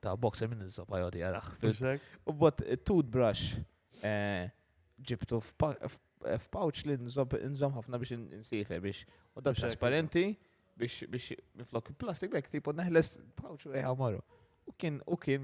ta' boxer minn iż-zopa jodi għalax. U bot toothbrush eh, ġibtu f'pouch li nżom ħafna biex nsifer biex u da trasparenti biex biex miflok plastik bek tipo neħles pouch u jħamaru. U kien u kien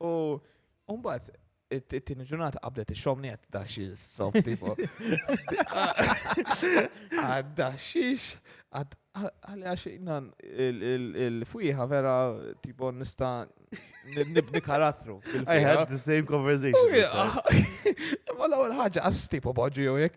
U mbagħad it-tieni ġurnata qabdet ix-xogħol qed daxxix sob tipo. Għad daxxix għal għax il-fwieħa vera tipo nista' nibni karattru. I had the same conversation. Ma l-ewwel ħaġa għas tipo boġġi jew jekk.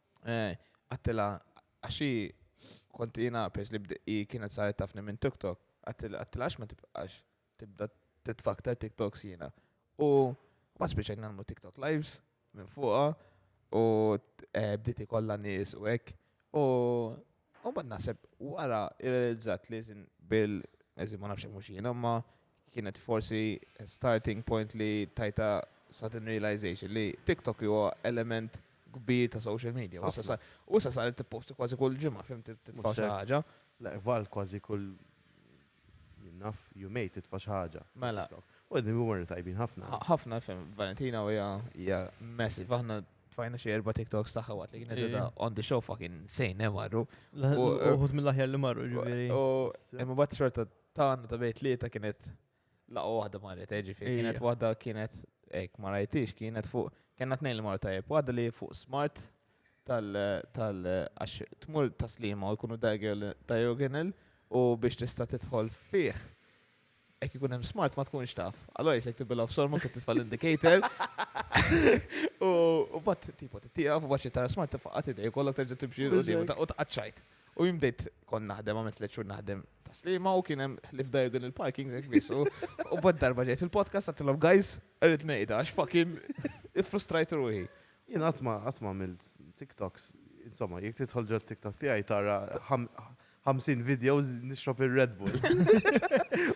Eh, għattila, għaxi kont jina pers li bdiqqi kienet saret tafni minn TikTok, għattila, għattila għax ma tibqax tibda titfaktar TikTok sina. U għax biex għagna l TikTok lives minn fuqa u eh, bditi kolla nis u ek. U U mbagħad naħseb wara irrealizzat li eżin bil eżin ma nafx mhux jiena ma kienet forsi starting point li tajta sudden realization li TikTok huwa element kbir ta' social media. U issa u issa saret tipposti kważi kull ġimgħa fim titfa' xi ħaġa. Le, Val kważi kull Jien naf, you may titfa' xi ħaġa. Mela. U qegħdin b'umor tajbin ħafna. Ħafna, fim, Valentina u hija, hija massive. Aħna tfajna xi erba' TikToks tagħha waqt li kienet qiegħda on the show fucking insane, hemm marru. Uħud mill-aħjar li marru, ġifieri. U imma bat xorta tagħna ta' bejt tlieta kienet laqgħa waħda marret, eh, ġifieri. Kienet waħda kienet hekk ma rajtix, kienet fuq kellna tnejn li marru tajjeb. Waħda li fuq smart tal tal għax tmur taslima u jkunu diagonal u biex tista' tidħol fih jekk ikun hemm smart ma tkunx taf. Allora jisek tibilgħu f'sor ma kif titfa' l-indicator. U bat tipo tittieqaf u bat xi tara smart tifaqat idej kollok terġa' timxi u tqaċċajt. U jien bdejt kont naħdem għamilt tliet xhur naħdem taslima u kien hemm ħlief diagonal parking hekk biss. U bad darba ġejt il-podcast għattilhom guys irrid ngħidha għax fucking iffrustrajt ruħi. Jien qatt ma qatt ma għamilt TikToks. Insomma, jekk tidħol ġo TikTok tiegħi tara 50 videos nixrob ir-Red Bull.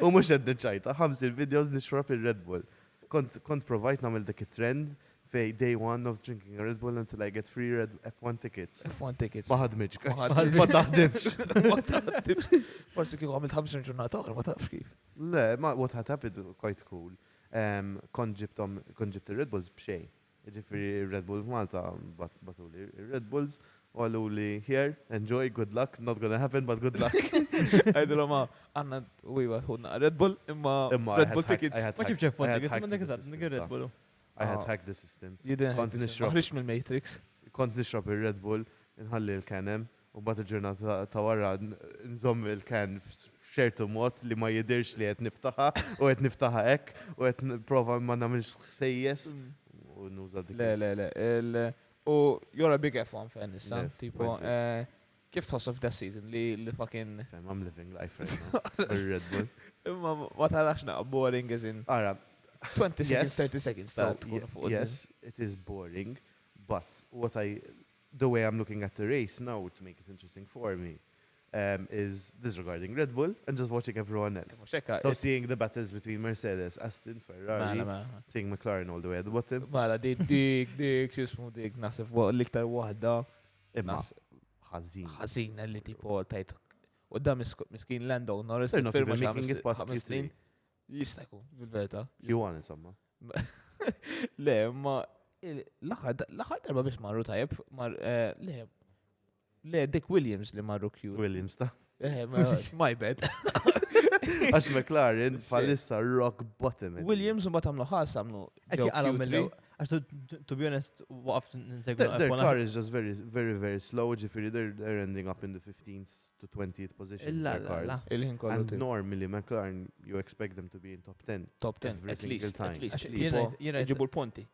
U mhux qed niċċajta, 50 videos nixrob ir-Red Bull. Kont kont provajt nagħmel dik it-trend fej day one of drinking a Red Bull until I get free Red F1 tickets. F1 tickets. Ma ħadmitx. Ma ħadmitx. Ma taħdimx. Ma taħdimx. Forsi kieku għamilt 50 ġurnata oħra, ma tafx kif. Le, ma what had happened quite cool. Em, Kont ġibtom, kont ġibt ir-Red Bulls b'xejn. jiġifieri r-Red Bull f'Malta, bagħtuli r-Red Bulls u qaluli here, enjoy, good luck, not gonna happen but good luck. Għidilhom ah, għandna u iva ħudna Red Bull imma Red Bull tickets. Ma ġibx il-fondi, għad m'għandek eżatt, m'għandek ir-Red Bull. I had hacked the system. Kont nixrob. Ħriġt mill-Matrix. Kont nixrob ir-Red Bull, inħalli l-can hemm. u mbagħad il-ġurnata ta' wara nżomm il-can f'ċertu mod li ma jidhirx li qed niftaħha u qed niftaħha hekk u qed nipprova ma nagħmilx ħsejjes u nuża dik. Le, le, le. U you're a big F1 fan issa, tipo, kif tħossok f'da season li fucking. Fem, I'm living life right now. Ir-Red Bull. Imma ma tarax naqqa boring as in. Ara. 20 seconds, 30 seconds ta' tkun fuq. Yes, it is boring, but what I The way I'm looking at the race now to make it interesting for me is disregarding Red Bull and just watching everyone else. Mhux hekk. So seeing the battles between Mercedes, Aston, Ferrari, mela, mela. seeing McLaren all the way at the bottom. Mela dik dik dik x'ismu dik naħseb l-iktar waħda. Imma ħażin. Ħażin li tipo tajt. U da miskin Lando Norris. They're not even making it past Q3. Jista' jkun, fil-verità. Juan insomma. Le, ma l-aħħar darba biex marru tajjeb, mar eh, le, le Dick Williams li marru kju. Williams ta' Eh, ma- my bad. għax McLaren bħalissa rock bottom. eh. Williams u batamlu ħas għamlu. Qed ġew jaqalgħu Q3. mill Għax to- to- to be honest, waqaft Their, nsegwi their car is just very, very, very slow, ġifiri they're, they're ending up in the 15s, to 20th position in their cars. And normally McLaren, you expect them to be in top 10. Top 10, every single time. Jġibu l-punti.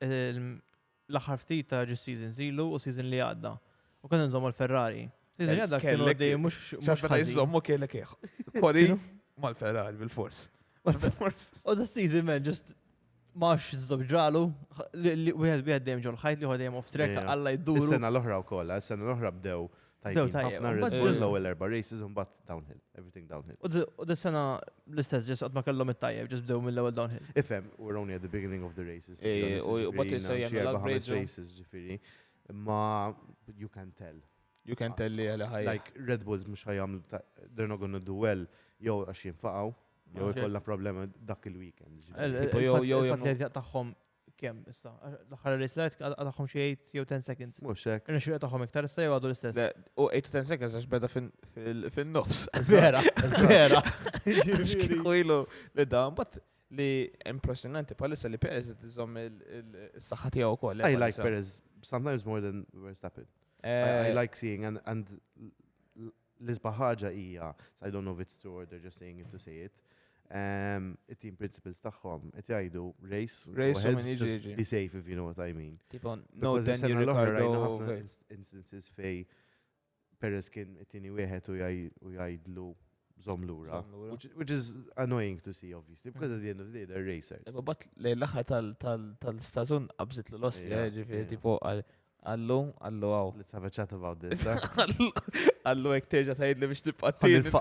L-axar ftit ta' ġis season zilu u season li għadda. U kħan nżommu l-Ferrari. Season li għadda kienu għaddi mux. Xax bada jżommu kelle kieħ. Kori mal-Ferrari bil-fors. Mal-fors. U da season man, just Max zdob ġralu, wieħed wieħed dejjem ġol ħajt li ħod dejjem off track, alla jiddur. Is-sena l-oħra wkoll, eh, is-sena l-oħra bdew tajbin ħafna Red Bull l-ewwel erba' races u mbagħad downhill, everything downhill. U dis-sena l-istess ġis qatt ma kellhom it-tajjeb ġis bdew mill-ewwel downhill. Ifhem, we're only at the beginning of the races. Eh, u bad isejjem l-ħames races ġifieri. Ma you can tell. You can tell li għal ħajja. Like Red Bulls mhux ħajjam, they're not gonna do well, jew għax jinfaqgħu, Jew ikollha problema dak il-weekend. Tipo jew jew jew tagħhom kemm issa? L-aħħar li slajt tagħhom xi 8 jew 10 seconds. Mhux hekk. Irna xi tagħhom iktar issa jew għadu l-istess. U 8 10 seconds għax beda fin-nofs. Vera, vera. X'kieku ilu li dan, but li impressionanti palissa li Perez iżomm il-saħħa tiegħu wkoll. I like Perez sometimes more than Verstappen. I eh, like seeing and L-isbaħ ħaġa hija, I don't know if it's true or they're just saying it to say it, ehm, it-team principles tagħhom qed jgħidu race, race min jiġi be safe if you know what I mean. Tipo, no ten year ħafna instances fej peress kien it-tieni wieħed u jgħidlu zom lura. Which is annoying to see, obviously, because at the end of the day, they're racers. But l-laħħa tal-stazun qabżit l-osti, eh, ġifiri, tipo, Allu, allu għaw. Let's have a chat about this. Allu għek terġa tajid li biex nibqa t-tini.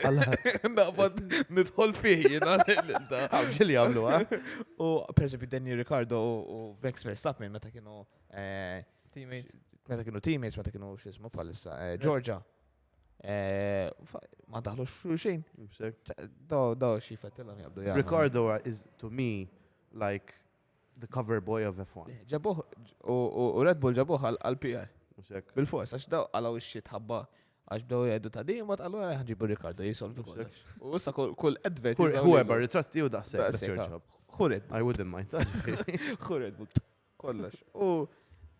Naqbad nidħol fih, jina l-da. Għamġi li għamlu, għa? Eh? U, per esempio, Danny Ricardo u Vex Verstappen, meta kienu. Eh, teammates. Meta kienu teammates, meta kienu xismu palissa. Eh, Georgia. Ma daħlux fru xejn. Do, do, xifet, il-għam jabdu. Ricardo is to me like The cover boy of F1. Ġabuħ, u Red Bull ġabuħ għal-PR. Bil-fors, għax daw għalaw ix-xit ħabba għax bdew jgħidu ta' din, bat għallu eh, ħġibu Ricardo jisolvi kollox. U issa kull advert. Hu ebba ritratti u daqseg. Ħured. I wouldn't mind. Ħured, kollox. U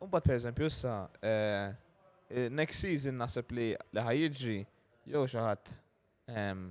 mbagħad pereżempju issa eh, eh, next season naħseb li li ħajjiġri jew xi ħadd ehm,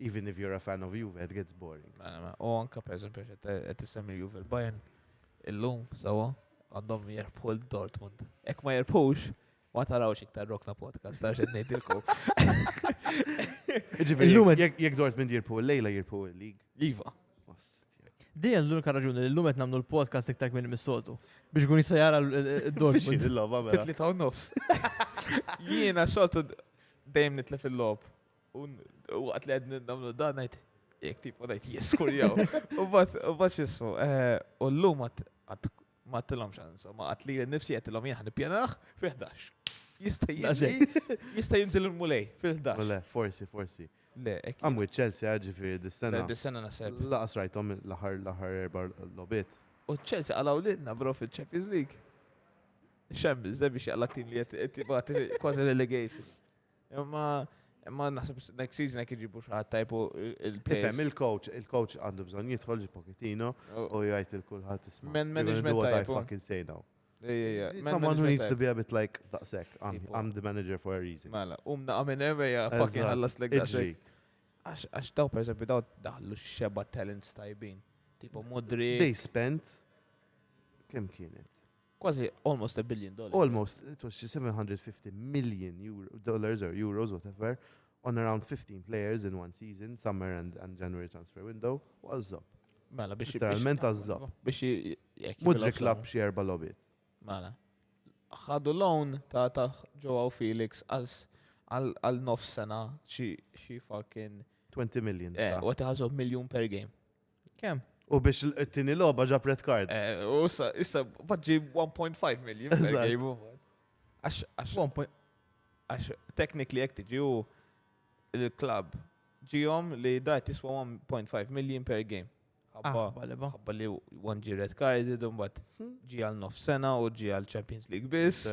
Even if you're a fan of Juve, it gets boring. Mela, mela. U anke pereżempju għax qed qed issemmi l-Juve, il-Bayern illum sewwa għandhom jerbħu l Dortmund. Hekk ma jerbħux, ma tarawx iktar Rokna Podcast, għax qed ngħidilkom. Ġifieri, Illum qed- jekk jekk Dortmund jirbħu l-lejla jirbħu l-lig. Iva. Ostja. Dejja l-unika raġuni li llum qed nagħmlu l-podcast iktar kmini mis-soltu biex kun jista' jara Fixin d-Dortmund. il-logħba mela. Fitli ta' nofs. Jiena soltu dejjem nitlef il-lob. U waqt li qegħdin nagħmlu dan ngħid jekk tipo ngħid jiskurjaw. U bad x'ismu. U llum għad ma għattilhomx insomma, għad li nifsi għattilhom jaħ nippjanaħ fi 11. Jista' jista' jinżel il-mulej fil-11. Le, forsi, forsi. Le, ek. Għamwi Chelsea għagġi fi dis-sena. Dis-sena naseb. Laqas rajtom l-aħħar l-aħħar erba' lobit. U Chelsea għalaw lilna bro fil-Champions League. Xem, zebi xie għalak tim li jett kważi relegation. Imma Imma naħseb next season jek iġibu xaħat tajpu il-players. Fem, il-coach, il-coach għandu bżon jitħol ġipokitino oh. u jgħajt il-kulħat isma. Men management tajpu. fucking say now. Someone who needs to be a bit like, daqsek, I'm, I'm the manager for a reason. Mela, umna għamin emeja, fucking għallas l daqsek. Għax daw, per esempio, daw daħlu xeba talents tajbin. Tipo Modri. They spent, kem kienet? Kważi almost a billion dollars. Almost, it was 750 million dollars or euros, whatever, on around 15 players in one season, summer and, and January transfer window, u għazzab. Mela, biex Literalment għazzab. Biex Mudrik lab xie erba lobit. Mela. Ħadu loan ta' ta' Joao Felix għal nof sena xie fucking. 20 million. Eh, u għati ħazzob million per game. Kemm? U biex it-tini loba ġab red card. Eh, u issa, issa, bħadġi 1.5 million per game. Għax, għax, għax, technically jek tiġi u il-klab ġijom li da tiswa 1.5 million per game. Għabba ah, li għan ġi red card, idum bat ġi għal nof sena u ġi għal Champions League biss.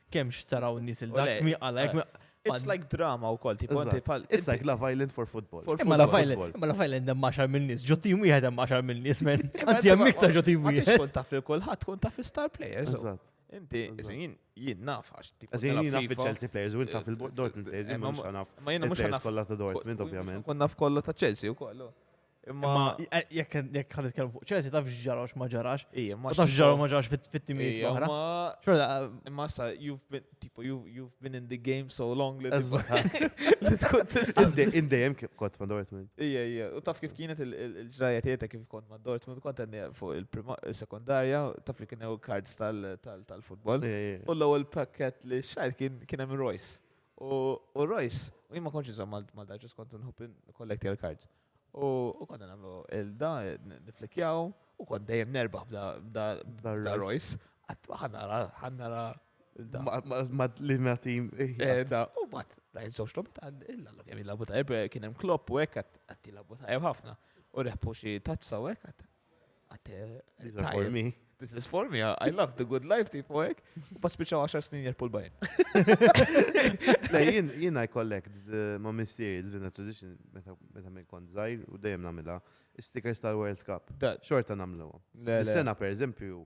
Kemm xtaraw n-nies il-dak mi għala jekk mi- It's like drama u kol, tipo inti fal. It's like Love Island for football. For Imma la football. fajl, football. imma la fajl hemm 10 minn nies, ġo tim wieħed hemm 10 minn nies, men. Imma Anzi inti hemm ma- iktar ġo tim Ma tix wieħed. tkun taf lil kulħadd, tkun taf star players. u Eżatt. Inti, Eżatt. iżin, jien, jien naf għax. tipo, Eżin nilgħab jina FIFA. fil-Chelsea players u inta Eh, fil-Dortmund players, eh, jien ma ma- mhux ħanaf. Ma jiena mhux Il-players ħanaf. kollha ta' Dortmund, ovvjament. Konna f'kollu ta' Chelsea u kollu. Imma jekk jekk ħad titkellem fuq Chelsea taf x'ġara ma ġarax. Ija, ma taf x'ġara ma ġarax fit-timijiet l-oħra. Imma sa you've been tipo you've been in the game so long li tkun tista' indejjem kif kont ma' Dortmund. Ija, ija, u taf kif kienet il-ġrajja tiegħek kif kont ma' Dortmund kont għandi fuq il-sekondarja taf li kien hemm cards tal-futbol. U l-ewwel pakket li xajt kien hemm Royce. U Royce, u jien ma kontx iżomm mal-daġġu skont nħobb kollekti għal cards. U konna nagħmlu il-da, niflikjaw, u kont dejjem nerbaħ b'da Royce. Ħannara, ħannara. Ma l-inna tim. Eh, da, u bat, da jizzoċ l-om ta' l-għallu kien il-labu ta' kien hemm klopp u hekk għatti labu ta' ħafna. U reħpu xi tazza u hekk Business for me, I love the good life ti fuq, bat spiċaw 10 snin jirpu l-bajn. Jien, jien I collect uh, ma missieri, it's been a tradition, meta minn kont zaħir u dejjem namila, stickers tal-World Cup. Xorta namlu. Sena per eżempju,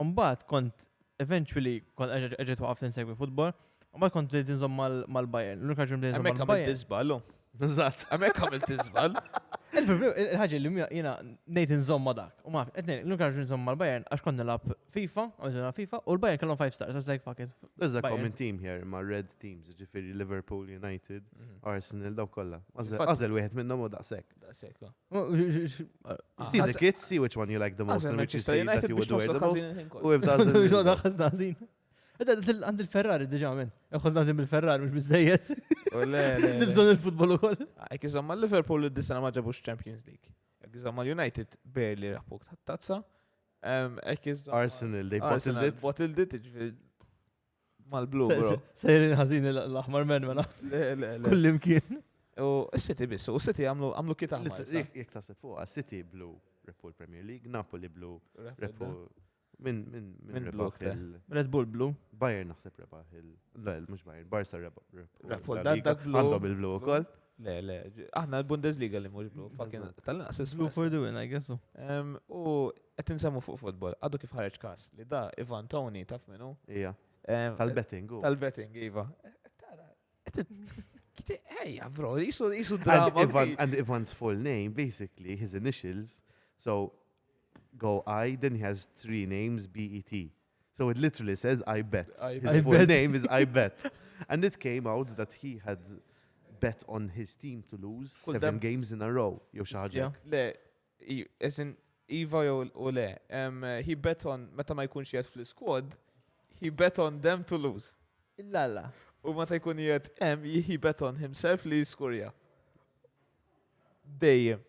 U mbagħad kont eventually kont erġajt waqaft insegwi futbol, u mbagħad kont bdejt inżomm mal-Bayern. L-unika raġuni bdejt inżomm mal-Bayern. Hemmhekk għamilt iżball, oh. Eżatt. Hemmhekk għamilt iżball. Il-ħaġa li jiena ngħid inżomm ma' dak. U ma nafx, qed ngħid, l-unika raġuni nżomm mal-Bayern għax kont nilgħab FIFA, għamilt nilgħab FIFA, u l-Bayern kellhom five stars, I was like fuck it. There's a common team here ma' red teams, ġifieri Liverpool, United, Arsenal, dawk kollha. Għażel wieħed minnhom u daqshekk. Daqshekk. You see the kids, see which one you like the most and which you see that you would do it the most. U ibda żin. Għand il-Ferrari diġa minn. Eħħol nazim il-Ferrari, mux bizzejiet. Nibżon il-futbol u koll. Ek iżom ma Liverpool id-disana ma ġabux Champions League. Ek iżom ma United barely raħbuk ta' tazza. Arsenal, they bottled it. Bottled it, ġvil. Mal-blu, bro. Sejrin ħażin l-aħmar men mela. Le, le, le. Kullimkien. U s-City biss, u s-City għamlu kit aħmar. issa. Jek jek tasib fuq, City blu Repul Premier League, Napoli blu Repul. Min, min, min Minn blu rebaħ aktar. il- Red Bull blu. Bayern naħseb rebaħ il. Le, mux Bayern, Barca rebaħ. Repul, La dak- Liga. dak blu. Għandhom il-blu ukoll. Le, le, aħna l-Bundesliga li mhux blu, fucking tal-inqas is Blu for the win, I guess. U qed insemmu fuq futbol, għadu kif ħareġ każ li da Ivan Tony taf minnu? Ija. Tal-betting. Tal-betting, iva. Ejja, bro, jisu jisu drama. And Ivan's full name, basically, his initials, so go I, then he has three names, B-E-T. So it literally says I bet. I bet. His full name is I bet. And it came out that he had bet on his team to lose Kull seven darb- games in a row. Jew xi ħaġa. Yeah. Le, i- esin, Iva jew u le. Em, he bet on, meta ma jkunx jgħed fl-squad, he bet on them to lose. Illalla. U meta jkun jgħed em, he bet on himself li jiskurja. Dejjem.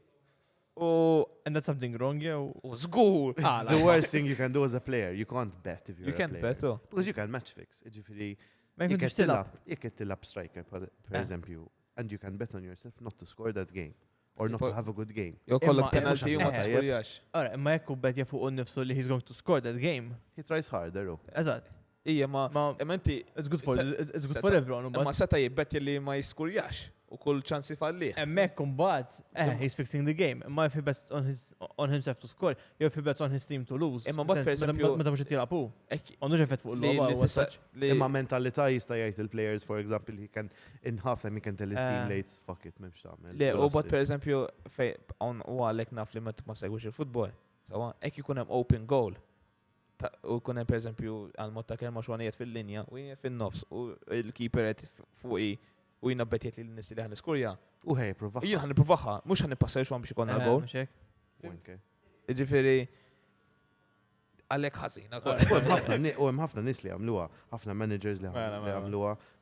U and that's something wrong jew? U żgur! It's the worst thing you can do as a player. You can't bet if you're a player. You can't bet, oh. Because you can match fix. Ġifieri. Ma jkunx tilab. Jekk qed tilab striker, per eh. eżempju, and you can bet on yourself not to score that game. Or not to have a good game. Jo kollok penalty ma tajjeb. Ora, imma jekk u bet jafu un nifsu li he's going to score that game. He tries harder. Oh. Eżatt. Ija, ma, ma, imma inti. It's good for, it's good for everyone. Imma seta jibbetti li ma jiskurjax u kull ċans ifallih. Emmek kumbat, eh, he's fixing the game, imma if he bets on, his, on himself to score, jew if he bets on his team to lose. Imma bat per esempio. Meta mux jtirapu. Għandu ġefet fuq l-logħba. Imma mentalita jista jgħid il-players, for example, he can, in half time he can tell his eh. teammates, fuck it, memx taħmel. Le, u bat per esempio, fej, għon u għalek naf li ma segwix il-futbol. Sawa, ekki kunem open goal. u jkun hemm pereżempju għal mod ta' kelma għax wan qiegħed fil-linja u jien qiegħed fin-nofs u l-keeper qed fuqi u jien nabbet jgħid li nifsi li ħan iskurja. U ħej pruvaħ. Jien ħan nippruvaħha, mhux ħan nippassar xwan biex ikollna l-gowl. Ġifieri għalhekk ħażin. U hemm ħafna nies li jagħmluha, ħafna managers li jagħmluha.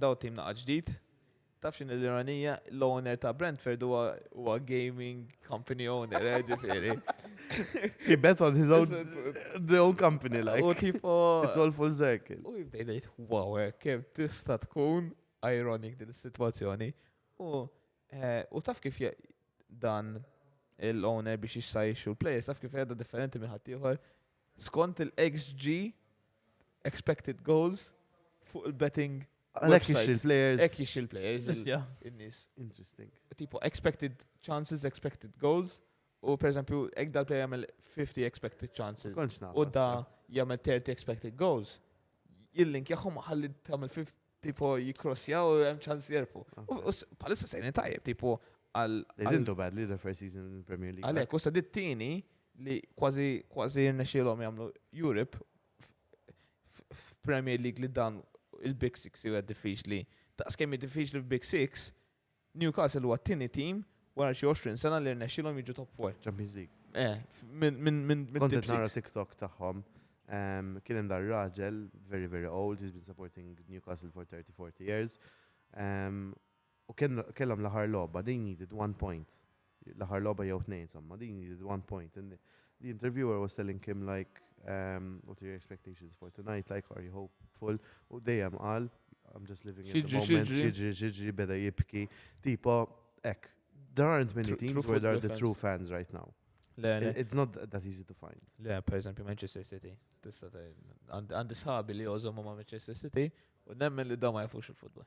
Daw tim naqqa ġdid. Taf x'inhi l-ironija, l-owner ta' Brentford huwa gaming company owner, eh, ġifieri. He bet on his own, the own company, like. U tipo. It's all full circle. U jibdej ngħid, wow, eh, kemm tista' tkun ironic din is-sitwazzjoni. U eh, u taf kif dan l-owner biex jista' jixxu l-players, taf kif jgħadda differenti minn ħaddieħor Skont il-XG, Expected Goals, fuq il-betting. Għalhekk jixtri l-players. Hekk jixtri l-players. In-nies. Interesting. Tipo expected chances, expected goals. U per eżempju, ek dal player jagħmel 50 expected chances. U da jagħmel 30 expected goals. Jillink jaħħom ħalli tagħmel 50 Tipo jikrossjaw u hemm ċans jerfu. U bħalissa sejni tajjeb, tipo għal. They didn't do badly the first season in Premier League. Għalek, u sa dittini li kważi kważi rnexxielhom jagħmlu Europe f'Premier League li dan il-Big Six jew diffiċli. Daqs kemm diffiċli f'Big Six, Newcastle huwa t-tieni tim wara xi 20 sena li rnexxielhom jiġu top four. Champions League. Eh, minn minn minn minn Kont qed tibsit. nara TikTok tagħhom. Ehm, kien hemm dan raġel, very very old, he's been supporting Newcastle for 30, 40 years. Ehm, u kien kellhom l-aħħar logħba, they needed one point. L-aħħar logħba jew tnejn insomma, din hi the one point. And the interviewer was telling him like um, what are your expectations for tonight, like are you hopeful? U dejjem qal, I'm just living in the moment, xiġri, xiġri, beda jibki. Tipo, ek, there aren't many teams where there are the true fans right now. Le, le. It's not that easy to find. Le, per eżempju, Manchester City. Tista għandi sħabi li jożomu ma' Manchester City u nemmen li daw ma jafux il-futbol.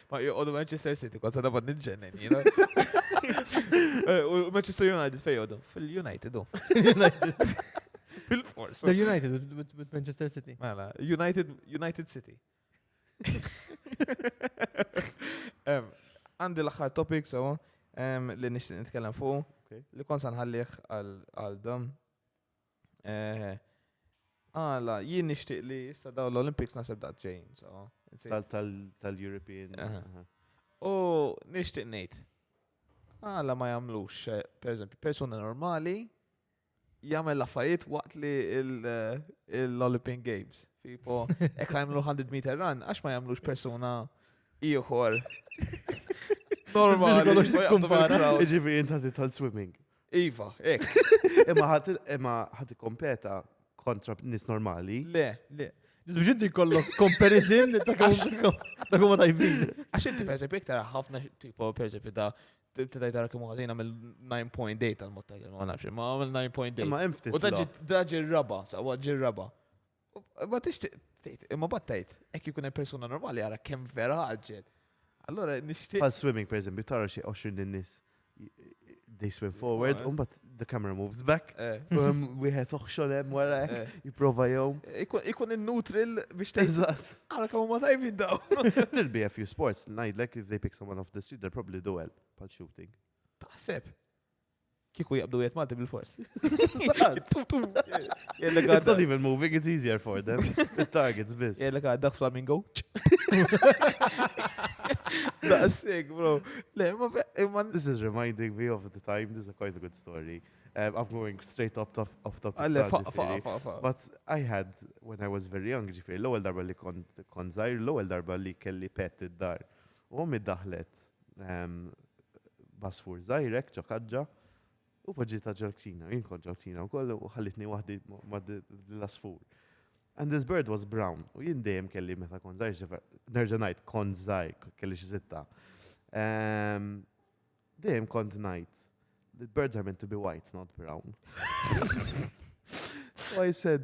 Ma joqodu Manchester City, kont sa nabad nġennen, jina. Eh, u Manchester United fej joqodu? Fil-United, u. Fil-force. The United with, with Manchester City. Mela, United, United City. Għandi l-axar topic, so, li nishtiq nitkellem fuq, li kont sanħalliħ għal dam. Għala, jien nixtieq li issa daw l-Olympics nasib dak ġejn, so. Tal-European. U nixtieq ngħid. Għala ma jagħmlux, eh, per eżempju, persuna normali jagħmel affarijiet waqt li eh, l-Olympian Games. Tipo, ek għamlu 100 meter run, għax ma jamlux persona iħor. Normal. Ġifiri intazi tal-swimming. Iva, ek. Imma ħad imma ħad kompeta kontra nis normali. Le, le. Biex inti kollok comparison ta' kumma tajbin. Għax inti per esempio iktar ħafna tipo per esempio ta' t-tajt għara kimu għadina mill 9.8 għal-motta ma nafx, ma għamil 9.8. Ma hemm ftit. U ta' ġirraba, sa' ġirraba. Ma tixtieq tgħid, imma bad tgħid, hekk jkun hemm persuna normali ara kemm vera ħaġġel. Allora nixtieq. Bħal swimming, per eżempju, tara xi 20 din nies. They swim forward, u mbagħad the camera moves back. Eh. U hemm wieħed oħxol hemm wara hekk, eh. jipprova jom. Ikun- Ikun in-neutral biex tgħid. Eżatt. Ara kemm huma tajbin daw. There'll be a few sports, ngħidlek if they pick someone off the street, they'll probably do well, bħal shooting. Taħseb. Kiku jaqbdu jgħet Malti bil-fors. It's not even moving, it's easier for them. It's targets biss. Jellek għaddak flamingo. That's sick, bro. This is reminding me of the time, this is quite a good story. Um, I'm going straight up top, off top. But I had, when I was very young, ġifiri, l-ewel darba li kon zaħir, l-ewel darba li kelli pet id-dar. U ommi daħlet b'għasfur żgħir hekk ġo kaġġa u poġġietha ġol-kċina. Jien kont ġol-kċina wkoll u ħallitni waħdi ma' l-għasfur. And this bird was brown. U jien dejjem kelli meta kont żgħir ġifer, nerġa' ngħid kont żgħir kelli xi sitta. Dejjem kont ngħid the birds are meant to be white, not brown. So I said,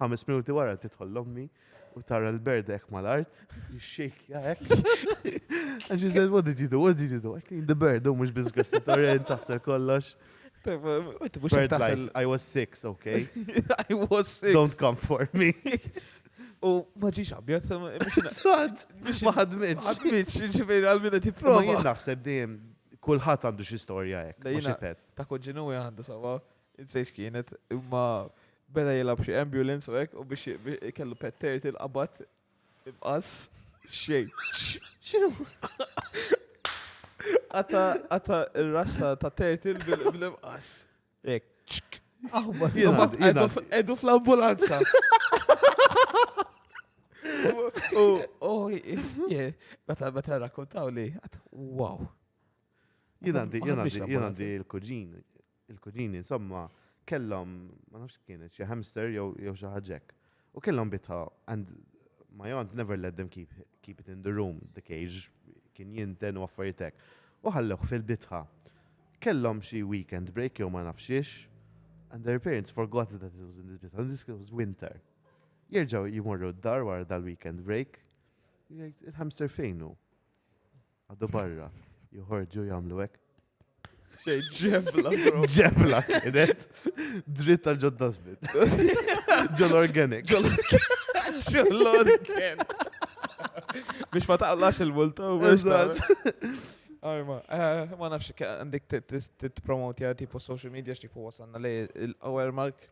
Ħames minuti wara tidħol l-ommi u tara l-berda hekk mal-art, jixxejkja hekk. And she said, what did you do? What did you do? I cleaned the bird, u mhux biżgħas t-torren, taħsel kollox. Bird life, I was six, okay? I was six. Don't come for me. U ma ġiex abjad, Sad, ma ħadmitx. Ħadmitx, ġifiri għal-mina ti prova. Jien naħseb dejjem, kullħat għandu xi storja hekk, mhux ipet. Ta' koġinu għandu sawa. So, Insejs kienet, imma beda jilgħab xi ambulance u hekk u biex kellu pet turtle qabad imqass xejn. X'inhu? Qata' qata' r-rassa ta' turtle bil-imqass. Hekk. Edu fl-ambulanza. Meta meta rakkontaw li, wow. Jien għandi jien għandi jien għandi l-kuġin Il-kuġini, insomma, kellhom, ma nafx kienet, xi hamster jew xi ħaġa hekk. U kellhom bitha, and my aunt never let them keep, keep it in the room, the cage, kien jinten u affarijiet hekk. U ħallewh fil-bitħa. Kellhom xi weekend break jew ma nafxiex, and their parents forgot that it was in this bitħa, and this was winter. Jerġaw jimorru d-dar wara dal-weekend break, il-hamster fejnu. Għadu barra, juħorġu jamlu ek. Xej, ġebla. Ġebla, kienet. Dritt għal ġodda zbit. Ġol organic. Ġol organic. Biex ma taqlax il-multa u biex. Arma, eh, ma nafx għandik t-promotja tipo social media xtipu wasanna li l-awel mark.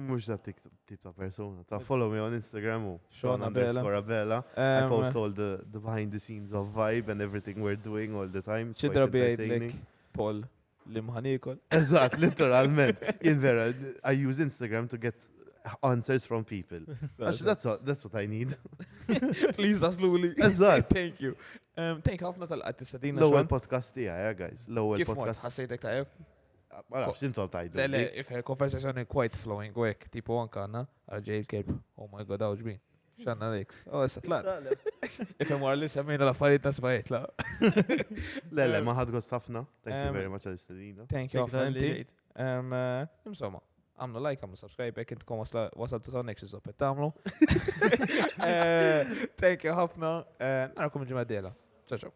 Mux da tip ta' persona, ta' follow me on Instagram u Sean underscore Abela. I post all the, the behind the scenes of vibe and everything we're doing all the time. Ċidra biejdlek, Paul, li mħanikol. Eżat, literalment. Jien vera, I use Instagram to get answers from people. Għax, that's, that's what I need. Please, aslu li. Eżat. Thank you. Um, thank you ħafna tal-qatt t-sadina. L-ewel podcast tija, yeah, guys. L-ewel podcast. Kif ħassejtek ta' Ma nafx, intol tajdu. Le, le, ifel, konversazzjoni quite flowing, u hekk, tipo anka għandna, għalġej il-kelb, oh my god, għawġ min. Xanna Rex. Oh, issa tlaq. Ifem għar li semmejna l-affarijiet ta' sbajt la. Le, le, ma ħad gost ħafna. Thank you very much għal-istilina. Thank you ħafna li ġejt. Insomma, għamlu like, għamlu subscribe, jek intkom wasaltu sa' next iżoppet tamlu. Thank you ħafna. Narakum ġimma d-dela. Ciao, ciao.